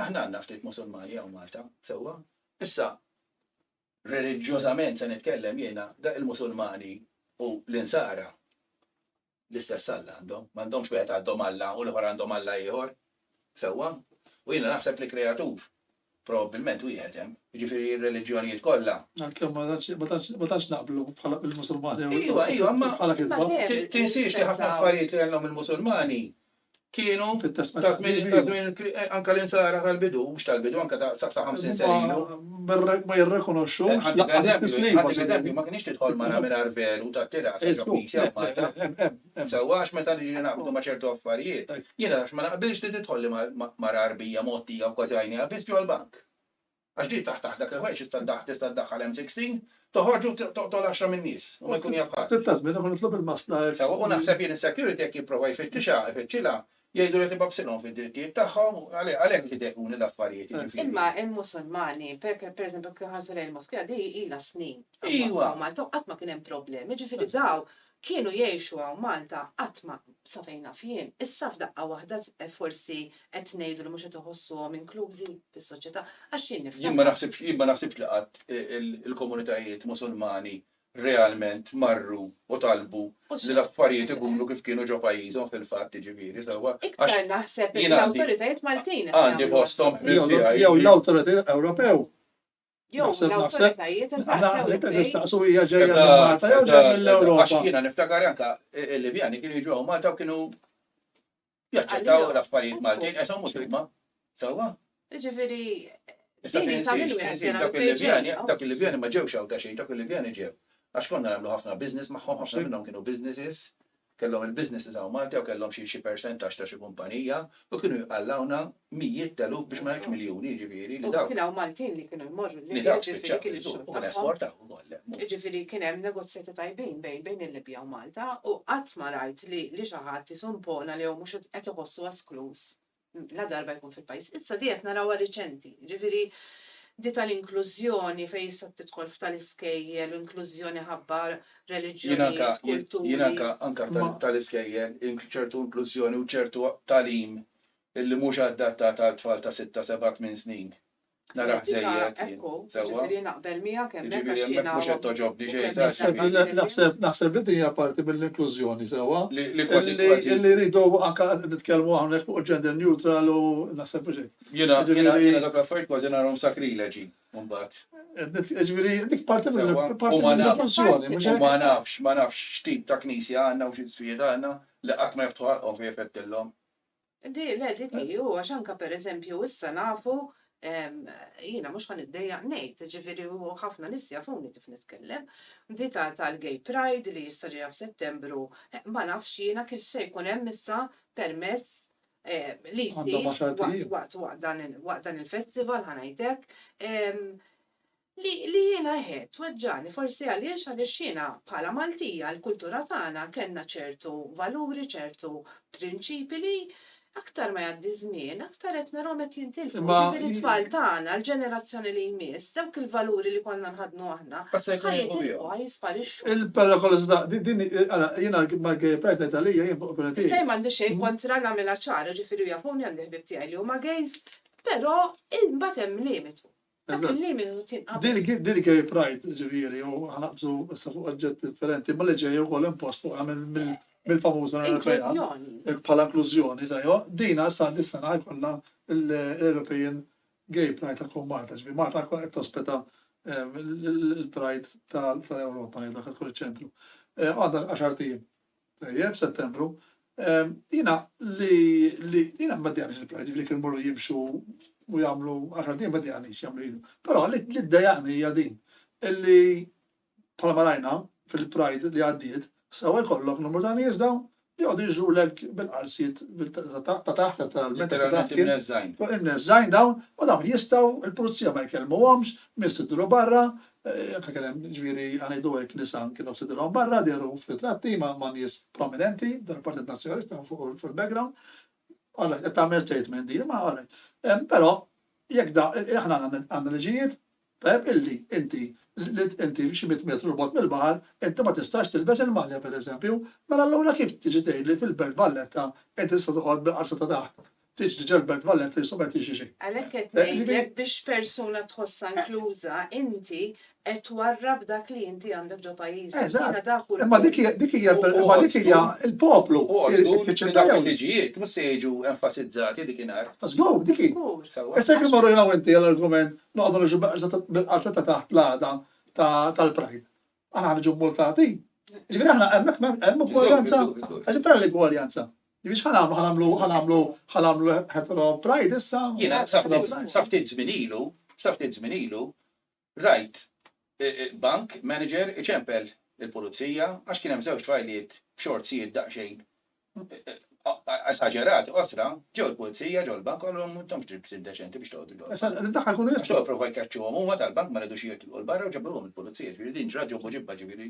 [SPEAKER 2] Aħna għandna ftit Musulmani hawn Malta, sewwa. Issa reliġjożament se nitkellem jiena, dak il-Musulmani u l-Insara L-istess Alla għandhom. M'għandhomx wieħed għadhom Alla u l-ieħor għandhom Alla ieħor. Sewwa? U jiena naħseb li kreatur probabbilment wieħed hemm. Jiġifieri r-reliġjonijiet kollha. Għalkemm ma tantx ma
[SPEAKER 1] tantx ma tantx naqblu bħala bil-Musulmani. Iva, iva, imma bħala
[SPEAKER 2] kitba. Tinsiex li ħafna affarijiet li għandhom il-Musulmani kienu ta' żmien ta' żmien eh, anka l-insara tal-bidu, mhux tal-bidu, anka ta' sa' 50 sen ilu. Ma
[SPEAKER 1] jirrekonoxxu. Eh, għandek eżempju,
[SPEAKER 2] ma kienx tidħol mara mingħajr velu ta' tira sa' ġobbisja Malta. Sewwa għax meta niġi naqbdu ma' ċertu affarijiet, jiena għax ma naqbilx li tidħol li mara arbija mottija u kważi għajnija biss ġol bank. Għax din taħt taħt dak il-ħwejjeġ tista' ddaħħ tista' ddaħħal hemm sixteen, toħorġ u toqtol għaxra min-nies u ma jkun jaf ħadd. Ftit ta' żmien ieħor nitlob il-maskla
[SPEAKER 1] hekk. Sewwa, u naħseb jien
[SPEAKER 2] is-security jekk jipprova jfittixha, ifittxilha, jgħidlu li qed ibabsilhom fid-drittijiet tagħhom, għalhekk idehkuni l-affarijiet, jiġifieri. Imma hemm
[SPEAKER 3] Musulmani, per per eżempju jekk inħarsu lejn il-moskea, din ilha snin. Iwa. F'Malta u
[SPEAKER 2] qatt ma kien hemm
[SPEAKER 3] problemi, jiġifieri dawn Kienu jgħixu hawn Malta qatt ma, sa fejn naf jien. Issa f'daqqa waħda forsi qed ngħidu li mhux qed iħossuhom inklużi fis-soċjetà. Għax jien niftakar. Jien ma naħsibx, jien ma naħsibx
[SPEAKER 2] li qatt il-komunitajiet Musulmani realment marru u talbu li l-affarijiet ikunu kif kienu ġo pajjiżhom fil-fatt jiġifieri sewwa. Iktar naħseb li
[SPEAKER 3] l-awtoritajiet Maltin qed jagħmlu. Għandi fosthom
[SPEAKER 2] ħbieb tiegħi. Jew
[SPEAKER 1] l-awtoritajiet Ewropew Jew Naħseb-
[SPEAKER 3] l-awtoritajiet Għana eżatt jew għet il-bejn. nistaqsu
[SPEAKER 1] hija ġejja minn Malta jew ġejja Għax mill-Ewropa. jiena niftakar anka
[SPEAKER 2] il-Libjani kienu jiġu hawn Malta u kienu jaċċettaw Għalihom. l-affarijiet Maltin, Appuntu. esom mhux huma. Sewwa? Ġifieri, Issa Din hi ta'
[SPEAKER 3] tinsiex, min wieħed tinsiex jara dak
[SPEAKER 2] minn fejn il-Libjani, ġejja. dak il-Libjani ma ġewx hawn ta' xejn, dak il-Libjani ġew. Għax konna nagħmlu ħafna business magħhom, ħafna minnhom kienu businesses, Kellhom il-businesses hawn Malta jew kellhom xi xi persentaġġ ta' xi kumpanija u kienu jqallgħuna mijiet t'eluf biex ma ngħidx miljuni jiġifieri li dawk. Kien hawn Maltin li kienu
[SPEAKER 3] jmorru l-Libja. Li dawk spiċċaw jiġbdu
[SPEAKER 2] u kienu esportaw ukoll hemm. Jiġifieri kien hemm
[SPEAKER 3] negozjati tajbin bejn bejn il-Libja u Malta u qatt ma rajt li li xi ħadd isu impona li jew mhux qed iħossu eskluż ladarba jkun fil-pajjiż. Issa di qed narawha riċenti, ġifieri di tal-inklużjoni fejn issa tidħol f'tal-iskejjel, inklużjoni ħabba reliġjonijiet, kulturi. Jien anke anke
[SPEAKER 2] tal-iskejjel, ċertu inklużjoni u ċertu tagħlim illi mhux adattat għal tfal ta' sitta, seba', tmien snin. Nara ħżejjed.
[SPEAKER 3] Ekku, ġifieri naqbel miegħek
[SPEAKER 2] hemmhekk
[SPEAKER 3] għax
[SPEAKER 2] jiena. Mhux qed toġobni xejn.
[SPEAKER 1] Naħseb li din hija parti mill-inklużjoni sewwa. Li kważi kważi.
[SPEAKER 2] Illi rridu anke
[SPEAKER 1] nitkellmu hawnhekk fuq il-gender neutral u naħseb mhux hekk. Jiena dawk
[SPEAKER 2] l-affarijiet kważi narahom sakrileġi mbagħad. Ġifieri
[SPEAKER 1] dik parti mill-inklużjoni.
[SPEAKER 2] U ma
[SPEAKER 1] nafx, ma nafx
[SPEAKER 2] x'tip ta' knisja għandna u xi nswied għandna li qatt ma jiftħu ħalqhom fejn ifettilhom. Di, le,
[SPEAKER 3] dik hi, u għax anka per eżempju issa nafu, jiena mhux ħa niddejjaq ngħid, ġifieri u ħafna nies jafuni kif nitkellem, di tal-Gay Pride li issa ġejja f'Settembru, ma nafx jiena kif se jkun hemm issa permess li jsir waqt dan il-festival ħa ngħid hekk. Li li jiena hekk tweġġagħni forsi għaliex għaliex jiena bħala Maltija l-kultura tagħna kellna ċertu valuri ċertu prinċipi li aktar ma jgħaddi ż-żmien aktar qed narahom qed jintilfu jiġifieri t-tfal tagħna l-ġenerazzjoni li jmiss dawk il-valuri li konna nħaddnu aħna ħa jitilqu ħa jisparixxu. Il-perikolosità
[SPEAKER 1] din ara jiena mal-gay pride ngħid għalija jien fuq opinjoni tiegħi. Issa jien m'għandi xejn kontra
[SPEAKER 3] nagħmilha ċara ġifieri u jafuni għandi ħbieb tiegħi li huma gays però imbagħad hemm limitu. Dak il-limitu tinqabeż. Din gay pride,
[SPEAKER 1] ġifieri, u ħanaqbżu issa fuq oġġett differenti, imma li ġej ukoll impost fuqha mill-famuża Ewropea. Inklużjoni. Bħala inklużjoni, tajwa. Dina sa dis-sena ħajkollha l-European Gay Pride ta' tkun Malta, ġifieri Malta tkun qed tospita l-Pride tal-Ewropa, dak tkun iċ-ċentru. Għandha għaxart ijiem. Tajjeb, Settembru. Jiena li, li, jiena ma ddejaqnix il-Pride, jiġifieri kienu jmorru jimxu u jagħmlu għaxar tim ma ddejaqnix jagħmlu jieħdu. Però li ddejaqni hija din illi bħalma rajna fil-Pride li għaddiet, sewa jkollok numru ta' nies dawn li jqogħdu jiġrulek bil-qarsiet ta' taħt letteralment ta' taħt kien.
[SPEAKER 2] Imneżżajn
[SPEAKER 1] dawn u dawn jistgħu il-pulizija ma jkellmuhomx, min se dduru barra, Jekk kienem, ġifieri ħa ngħidu hekk, nisa kienu qed idhirhom barra, dehru f'ritratti ma' ma' nies prominenti, tal-Partit Nazzjonalista fuq il-background. All right, qed tagħmel statement din, imma all right. Però jekk da aħna għandna liġijiet tajjeb illi inti inti xi mitt metru 'l bogħod mill-baħar inti ma tistax tilbes il-malja pereżempju, mela allura kif tiġi tgħidli fil-Belt Valletta inti tista' toqgħod bil-qalza ta' taħt Tiġri ġelbet valet li subet jiġri. Għalhekk qed ngħidlek
[SPEAKER 3] biex persuna tħossha inkluża, inti qed twarrab dak li inti għandek ġo pajjiżek. Eżatt. Imma dik
[SPEAKER 1] hija dik hija l-poplu. Dak
[SPEAKER 2] il-liġijiet mhux se jiġu enfasizzati dik inhar. Żgur, dik hi.
[SPEAKER 1] Issa jekk immorru jien u inti għal argument noqogħdu niġu beqża bil-qatla ta' taħt l-għada tal-Pride. Aħna ħa niġu mmultati? Jiġifieri aħna hemmhekk hemm ugwaljanza. Għax tara l-igwaljanza. Jiġifieri x'ħa nagħmlu, ħa nagħmlu, ħa nagħmlu, ħa nagħmlu hetero pride issa? Jiena sa ftit,
[SPEAKER 2] sa ftit żmien ilu, sa ftit żmien ilu, rajt bank manager iċempel il-pulizija għax kien hemm żewġ tfajliet b'xortsijiet daqsxejn esaġerati qosra, ġew il-pulizija, ġew il-bank, qalu ma intomx tribs indeċenti biex toqgħodu ġol. Issa daħħal kun jista'. Ġew provaw
[SPEAKER 1] jkeċċuhom
[SPEAKER 2] huma tal-bank ma ridux jitilqu l-barra u ġabruhom il-pulizija, ġifieri din ġrat ġo Poġibba ġifieri.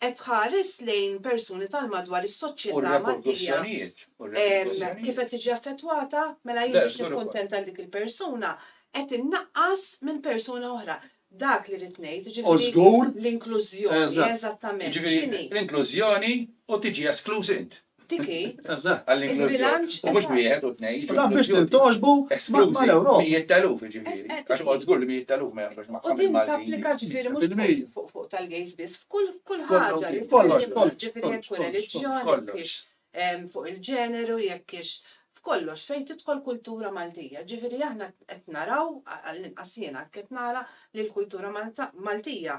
[SPEAKER 3] qed tħares lejn persuni tal-madwar is-soċjetà Maltija kif qed tiġi affettwata, mela jien biex nikkuntenta lil dik il-persuna qed innaqqas minn persuna oħra. Dak li rrid ngħid, jiġifieri l-inklużjoni eżattament x'inhi. L-inklużjoni
[SPEAKER 2] u tiġi eskluż int. Tiki, il-bilanċ. U mhux wieħed u tnejn. U dan biex tintoġbu
[SPEAKER 1] mal-Ewropa. Mijiet taluf, ġifieri. Għax
[SPEAKER 2] qod żgur li mijiet taluf ma jafux ma' ħadd Maltin. Tapplika
[SPEAKER 3] ġifieri mhux fuq tal-gays biss, f'kull ħaġa. Kollox, kollox. Ġifieri jekk hu reliġjon, jekk hix fuq il-ġeneru, jekk hix f'kollox fejn tidħol kultura Maltija. Ġifieri aħna qed naraw, għall-inqas jiena hekk qed nara, li l-kultura Maltija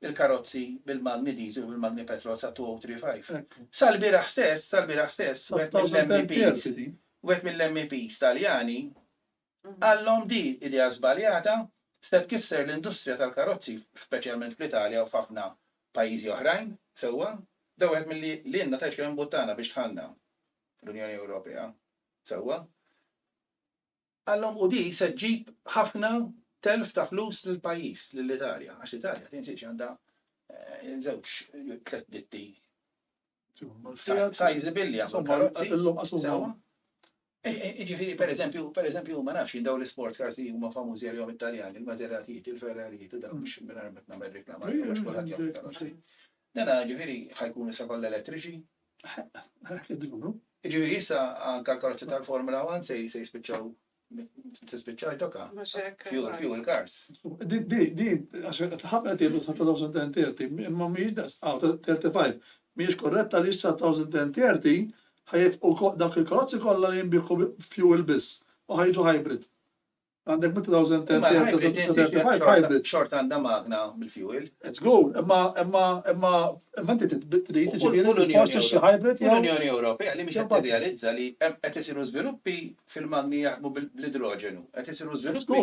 [SPEAKER 2] il-karozzi bil-magni diesel u bil-magni petrol sa 2035. Sal-bieraħ
[SPEAKER 1] stess,
[SPEAKER 2] sal-bieraħ stess, wieħed mill-MEPs,
[SPEAKER 1] wieħed
[SPEAKER 2] mill-MEPs Taljani qallhom di idea żbaljata se tkisser l-industrija tal-karozzi speċjalment fl-Italja u f'ħafna pajjiżi oħrajn, sewwa? Da wieħed milli lilna tgħidx kemm imbuttana biex dħalna fl-Unjoni Ewropea, sewwa? Qalhom u di se ġġib ħafna telf ta' flus lill-pajjiż, lill-Italja, għax l-Italja tinsiex għandha żewġ tliet ditti sizebilli għal karozzi. Illum qasuma. Sewwa. Jiġifieri pereżempju, pereżempju ma nafx jien dawn l-isports cars li huma famużi għalihom it-Taljani, il-Maseratijiet, il-Ferrarijiet u dawn biex mingħajr ma qed nagħmel riklama għalihom għax kulħadd jagħmel karozzi. Dana ġifieri ħajkunu issa kollha elettriċi, Jiġifieri issa anke karozzi tal-Formula 1 se jispiċċaw tispiċċa jtoka. Fuel, fuel cars. Di, di, di,
[SPEAKER 1] għax ħafna tiedu sa' 2030, imma miex da' 35, miex korretta li sa' 2030 ħajf u dak il-karozzi kollha li jimbiħu fuel biss u ħajġu hybrid. Għandek 2035 hybrid. Xort għandha magna
[SPEAKER 2] bil-fuel. It's good, imma
[SPEAKER 1] imma imma imma inti trid tiġifieri forsi xi hybrid jew. L-Unjoni Ewropea li mhix qed
[SPEAKER 2] tirrealizza li hemm qed isiru żviluppi fil-magni jaħdmu bl-idroġenu, qed isiru żviluppi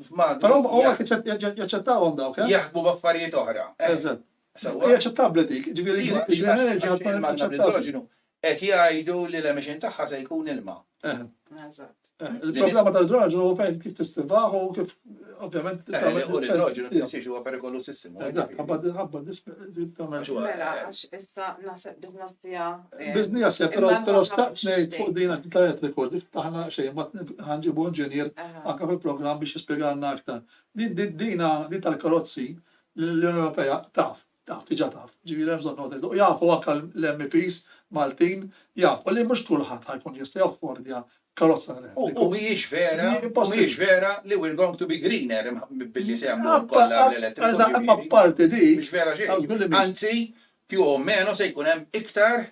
[SPEAKER 2] f'magni. Però huma qed
[SPEAKER 1] jaċċettawhom dawk, eh? Jaħdmu b'affarijiet
[SPEAKER 2] oħra. Eżatt.
[SPEAKER 1] Hija aċċettabbli dik, ġifieri l-green energy tkun aċċettabbli.
[SPEAKER 2] Qed jgħidu li l-emission tagħha se jkun ilma. Il-problema
[SPEAKER 1] tal-idroġenu hu fejn kif tistilvaħ u kif ovvjament. U l-idroġenu tinsiex huwa
[SPEAKER 2] perikolusissimu. Ħabba tagħmel xogħol. Mela għax issa naħseb biżnessija.
[SPEAKER 3] Biżnija se
[SPEAKER 1] però però staqt ngħid fuq din qed tajjeb rekord dik taħna xejn ma ħanġibu inġinier anke fil-programm biex jispjegalna aktar. Din dina din tal-karozzi l-Unjoni Ewropea taf Taf, diġa taf, ġifieri m'hemm bżonn noqgħod u jafu anke l-MEPs Maltin jafu li mhux kulħadd ħa jkun jista' jaffordja karozza elettrika. U mhijiex
[SPEAKER 2] vera, mhijiex vera li we're going to be greener billi se jagħmlu kollha l-elettriku. Eżatt, imma apparti dik.
[SPEAKER 1] Mhix vera xejn.
[SPEAKER 2] Anzi, più o meno se jkun hemm iktar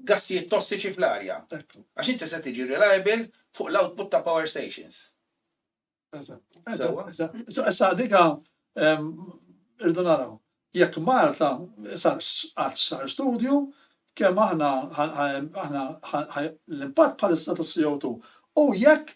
[SPEAKER 2] gassijiet tossiċi fl-arja. Għax inti se tiġi reliable fuq l-output ta' power stations.
[SPEAKER 1] Issa dika irdu naraw. Jekk Malta sar qatt sar studju kemm aħna l-impatt bħalissa tas-CO2 u jekk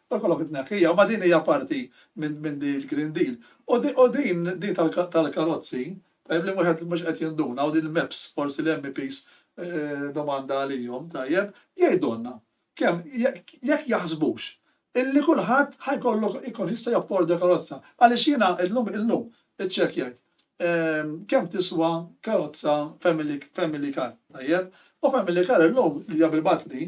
[SPEAKER 1] Ikollok it-tneħħija, imma din hija parti minn din il-Green Deal. U din tal-karozzi, tajjeb li wieħed mhux qed jinduna, u din il-MEPS, forsi l-MEPs domanda għalihom, tajjeb, jgħidulna kemm, jekk jaħsbux illi kulħadd ħa jkollu jkun jista' japporda karozza. Għaliex jiena llum, illum, iċċekkjajt kemm tiswa karozza family car, tajjeb, u family car illum hija bil-batri,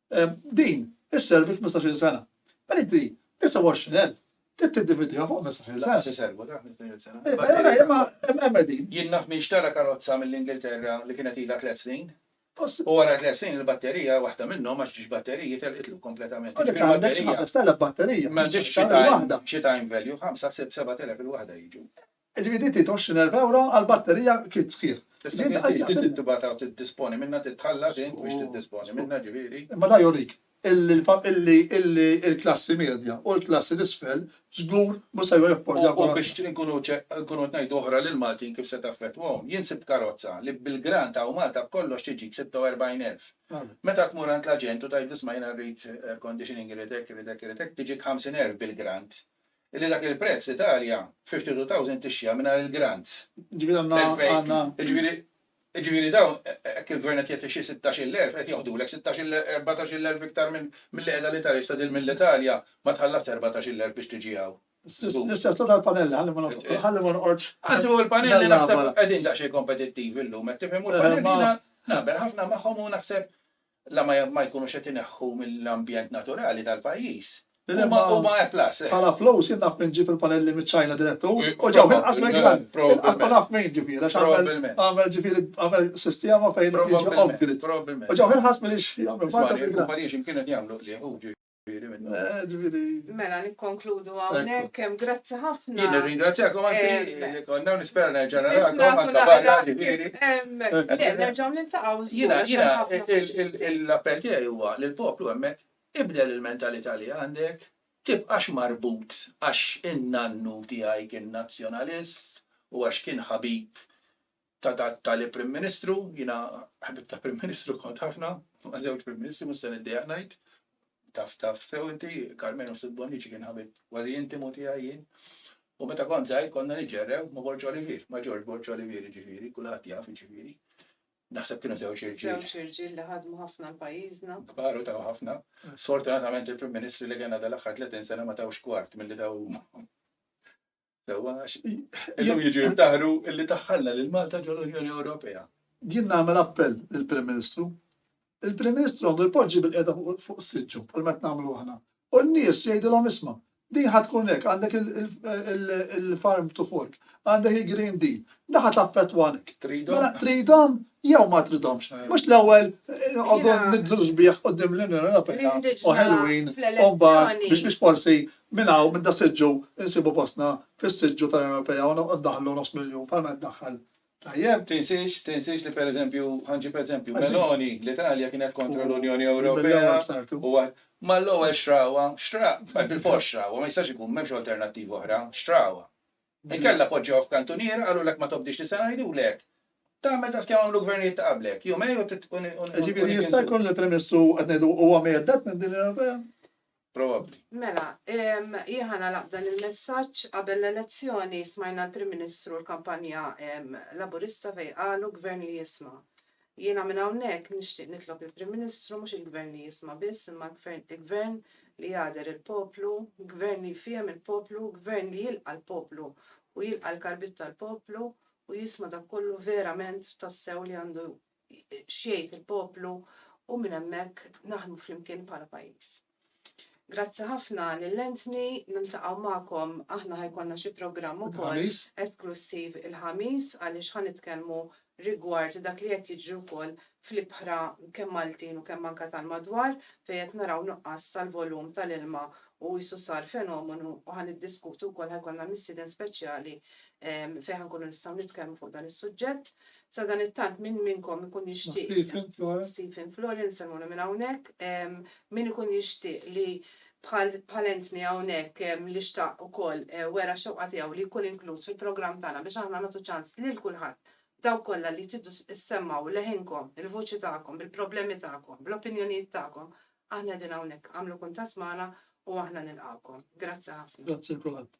[SPEAKER 1] Din isservi f'mistax-il sena. Mela inti 29,000 trid tiddividiha fuq mistax-il sena. Għaliex iservu dak
[SPEAKER 2] mistax-il sena? Imma hemm
[SPEAKER 1] qegħdin. Jien naf min xtara
[SPEAKER 2] karozza mill-Ingilterra li kienet ilha tliet snin, u wara tliet snin il-batterija, waħda minnhom, għax ġiex batteriji, telqitlu kompletament. U dik għandek xi ħames telef
[SPEAKER 1] batterija. M'għandhiex
[SPEAKER 2] xi time value, ħamsa, sitt, seba' telef il-waħda jiġu. Jiġifieri din tgħid
[SPEAKER 1] 20 erba' ewro għal batterija kit sħiħ. Tista' tgħid li inti trid
[SPEAKER 2] tibgħatha u tiddisponi minnha, trid tħallas int biex tiddisponi minnha ġifieri. Imma dan jurik
[SPEAKER 1] illi l-klassi medja u l-klassi t'isfel żgur mhux se joffordaw karozza. U biex
[SPEAKER 2] inkunu qed ngħidu oħra lill-Maltin kif se taffettwahom, jien sibt karozza li bil-grant ta' hawn Malta b'kollox tiġik 46 elf. Meta tmur għand l-aġent u tgħidlu isma' jiena rrid air conditioning, irrid hekk, irrid hekk, irrid hekk, tiġik 50 elf bil-grant. li dak il-prezz l-Italja fl-52,000 tixtriha mingħajr il-grants. Jiġifieri għandna għandna. Jiġifieri jiġifieri dawn hekk il-Gvern qed jgħid ixi 16,000 qed joħdulek 16,000 14,000 iktar minn milli qiegħda l-Italja issa din mill-Italja ma tħallasx 14,000 biex tiġi hawn.
[SPEAKER 1] L-istess hu tal-panelli ħalli ma ħalli ma noqgħodx. Anzi hu l-panelli
[SPEAKER 2] naħseb qegħdin daqsxejn kompetittivi llum qed tifhem u l-panelli jiena naqbel ħafna magħhom u naħseb la ma jkunux qed ineħħu mill-ambjent naturali tal-pajjiż, huma A plus. Bħala flus jien naf
[SPEAKER 1] minn ġieb il-panelli miċ-Ċina direttu u ġew inqas mill-gvern. Inqas ma naf minn ġieb jiena għax għamel ġifieri għamel sistema fejn jiġi off-grid. U ġew inqas milli jagħmlu. Isma' l-kumpaniji x'imkien
[SPEAKER 2] qed jagħmlu qligħ hu. Mela,
[SPEAKER 1] nikkonkludu
[SPEAKER 3] għawnek, grazzi ħafna. Jien ringrazzjakom għanti
[SPEAKER 2] li konna nispera nerġa' narakom għanka barra ġifiri. Le, nerġaw
[SPEAKER 3] nintaqaw Jina, jina,
[SPEAKER 2] l-appell tiegħi huwa li l-poplu hemmhekk ibdel il-mentalità li għandek, tibqax marbut għax in-nannu tiegħi kien nazzjonalist u għax kien ħabib ta' dat tali Prim Ministru, jiena ħbieb ta' Prim Ministru kont ħafna, ma' żewġ Prim Ministri mhux se niddejjaq ngħid, taf taf sew inti, Karmenu Sid Bonnici kien ħabib kważi intimu tiegħi jien, u meta kont żgħir konna niġġerrew ma' Borg Olivier, ma' George Borg Olivier jiġifieri, kulħadd jaf jiġifieri. Naħseb kienu żewġ irġiel. Żewġ irġiel li ħadmu
[SPEAKER 3] ħafna l-pajjiżna. Kbar u taw ħafna.
[SPEAKER 2] Sfortunatament il-Prim Ministri li kellna dal-aħħar 30 sena ma tawx kwart milli taw huma. Sewwa għax illum jiġu jibtaħru illi daħħalna lil Malta ġol unjoni Ewropea. Jien nagħmel
[SPEAKER 1] appell lill-Prim Ministru. Il-Prim Ministru għandu jpoġġi bil-qiegħda fuq siġġu bħal ma nagħmlu aħna. U n-nies jgħidilhom isma' din ħad tkun hekk għandek il-farm to fork, għandek il-green deal, daħa taffetwanek. Tridhom? Mela, tridhom jew ma tridhomx. Eh. Mhux l-ewwel eh, għoddu nidlu sbieħ qudiem l-Unjoni Ewropea u ħelwin u biex biex forsi Minn hawn, minn das-siġġu, insibu postna fis-siġġu tal-Unjoni Ewropea u ndaħħlu nofs miljun bħal ma qed tdaħħal. Tajjeb? Tinsiex, tinsiex
[SPEAKER 2] li pereżempju, ħa nġib eżempju, Meloni, l-Italja kienet kontra l-Unjoni Ewropea u mal-ewwel xtrawha, xtra, bħal bilfors xtrawha, ma jistax ikun, m'hemmx alternattiva oħra, xtrawha. Inkella poġġewha f'kantuniera, qalulek ma tobdix li se ngħidulek, tagħmel daqs kemm għamlu gvernijiet ta' qablek, jumejn u. Jiġifieri jista'
[SPEAKER 1] jkun li l-Prim Ministru qed ngħidu huwa mheddet minn din l-Unjoni Ewropea? probabbli.
[SPEAKER 2] Mela,
[SPEAKER 3] jien ħa nagħlaq b'dan il-messaġġ. Qabel l-elezzjoni smajna l-Prim Ministru l-kampanja Laburista fejn qalu Gvern li jisma'. Jiena minn hawnhekk nixtieq nitlob lill-Prim Ministru mhux il-Gvern li jisma' biss imma Gvern li jagħder il-poplu, Gvern li jfiehem il-poplu, Gvern li jilqa' l-poplu u jilqa' l-karbit tal-poplu u jisma' dak kollu verament tassew li għandu x'jgħid il-poplu u minn hemmhekk naħdmu flimkien bħala pajjiż. Grazzi ħafna lil Anthony, niltaqgħu magħkom aħna ħa jkollna xi programm ukoll esklussiv il-Ħamis għaliex ħa nitkellmu rigward dak li qed jiġri wkoll fl-ibħra kemm Maltin u kemm anke tal-madwar fejn qed naraw nuqqas tal-volum tal-ilma u qisu sar fenomenu u ħa niddiskutu wkoll ħa jkollna missieden speċjali fejn ħa nkunu nistgħu nitkellmu fuq dan is-suġġett. Sadanittant, min minnkom ikun jixtieq. Stephen Florence. Stephen Florence, salmuna minn hawnhekk. Min ikun jixtieq li bħal entni hawnhekk li xtaq ukoll wera x-xewqa tiegħu li jkun inkluż fil-programm tagħna biex aħna nagħtu ċans lil kulħadd, dawk kollha li tridu ssemmgħu leħinkom, il-vuċi tagħkom, bil-problemi tagħkom, bl-opinjonijiet tagħkom, aħna qegħdin hawnhekk. Agħmlu kuntatt
[SPEAKER 1] magħna
[SPEAKER 3] u aħna nilqgħukom. Grazzi ħafna. Grazzi lil kulħadd.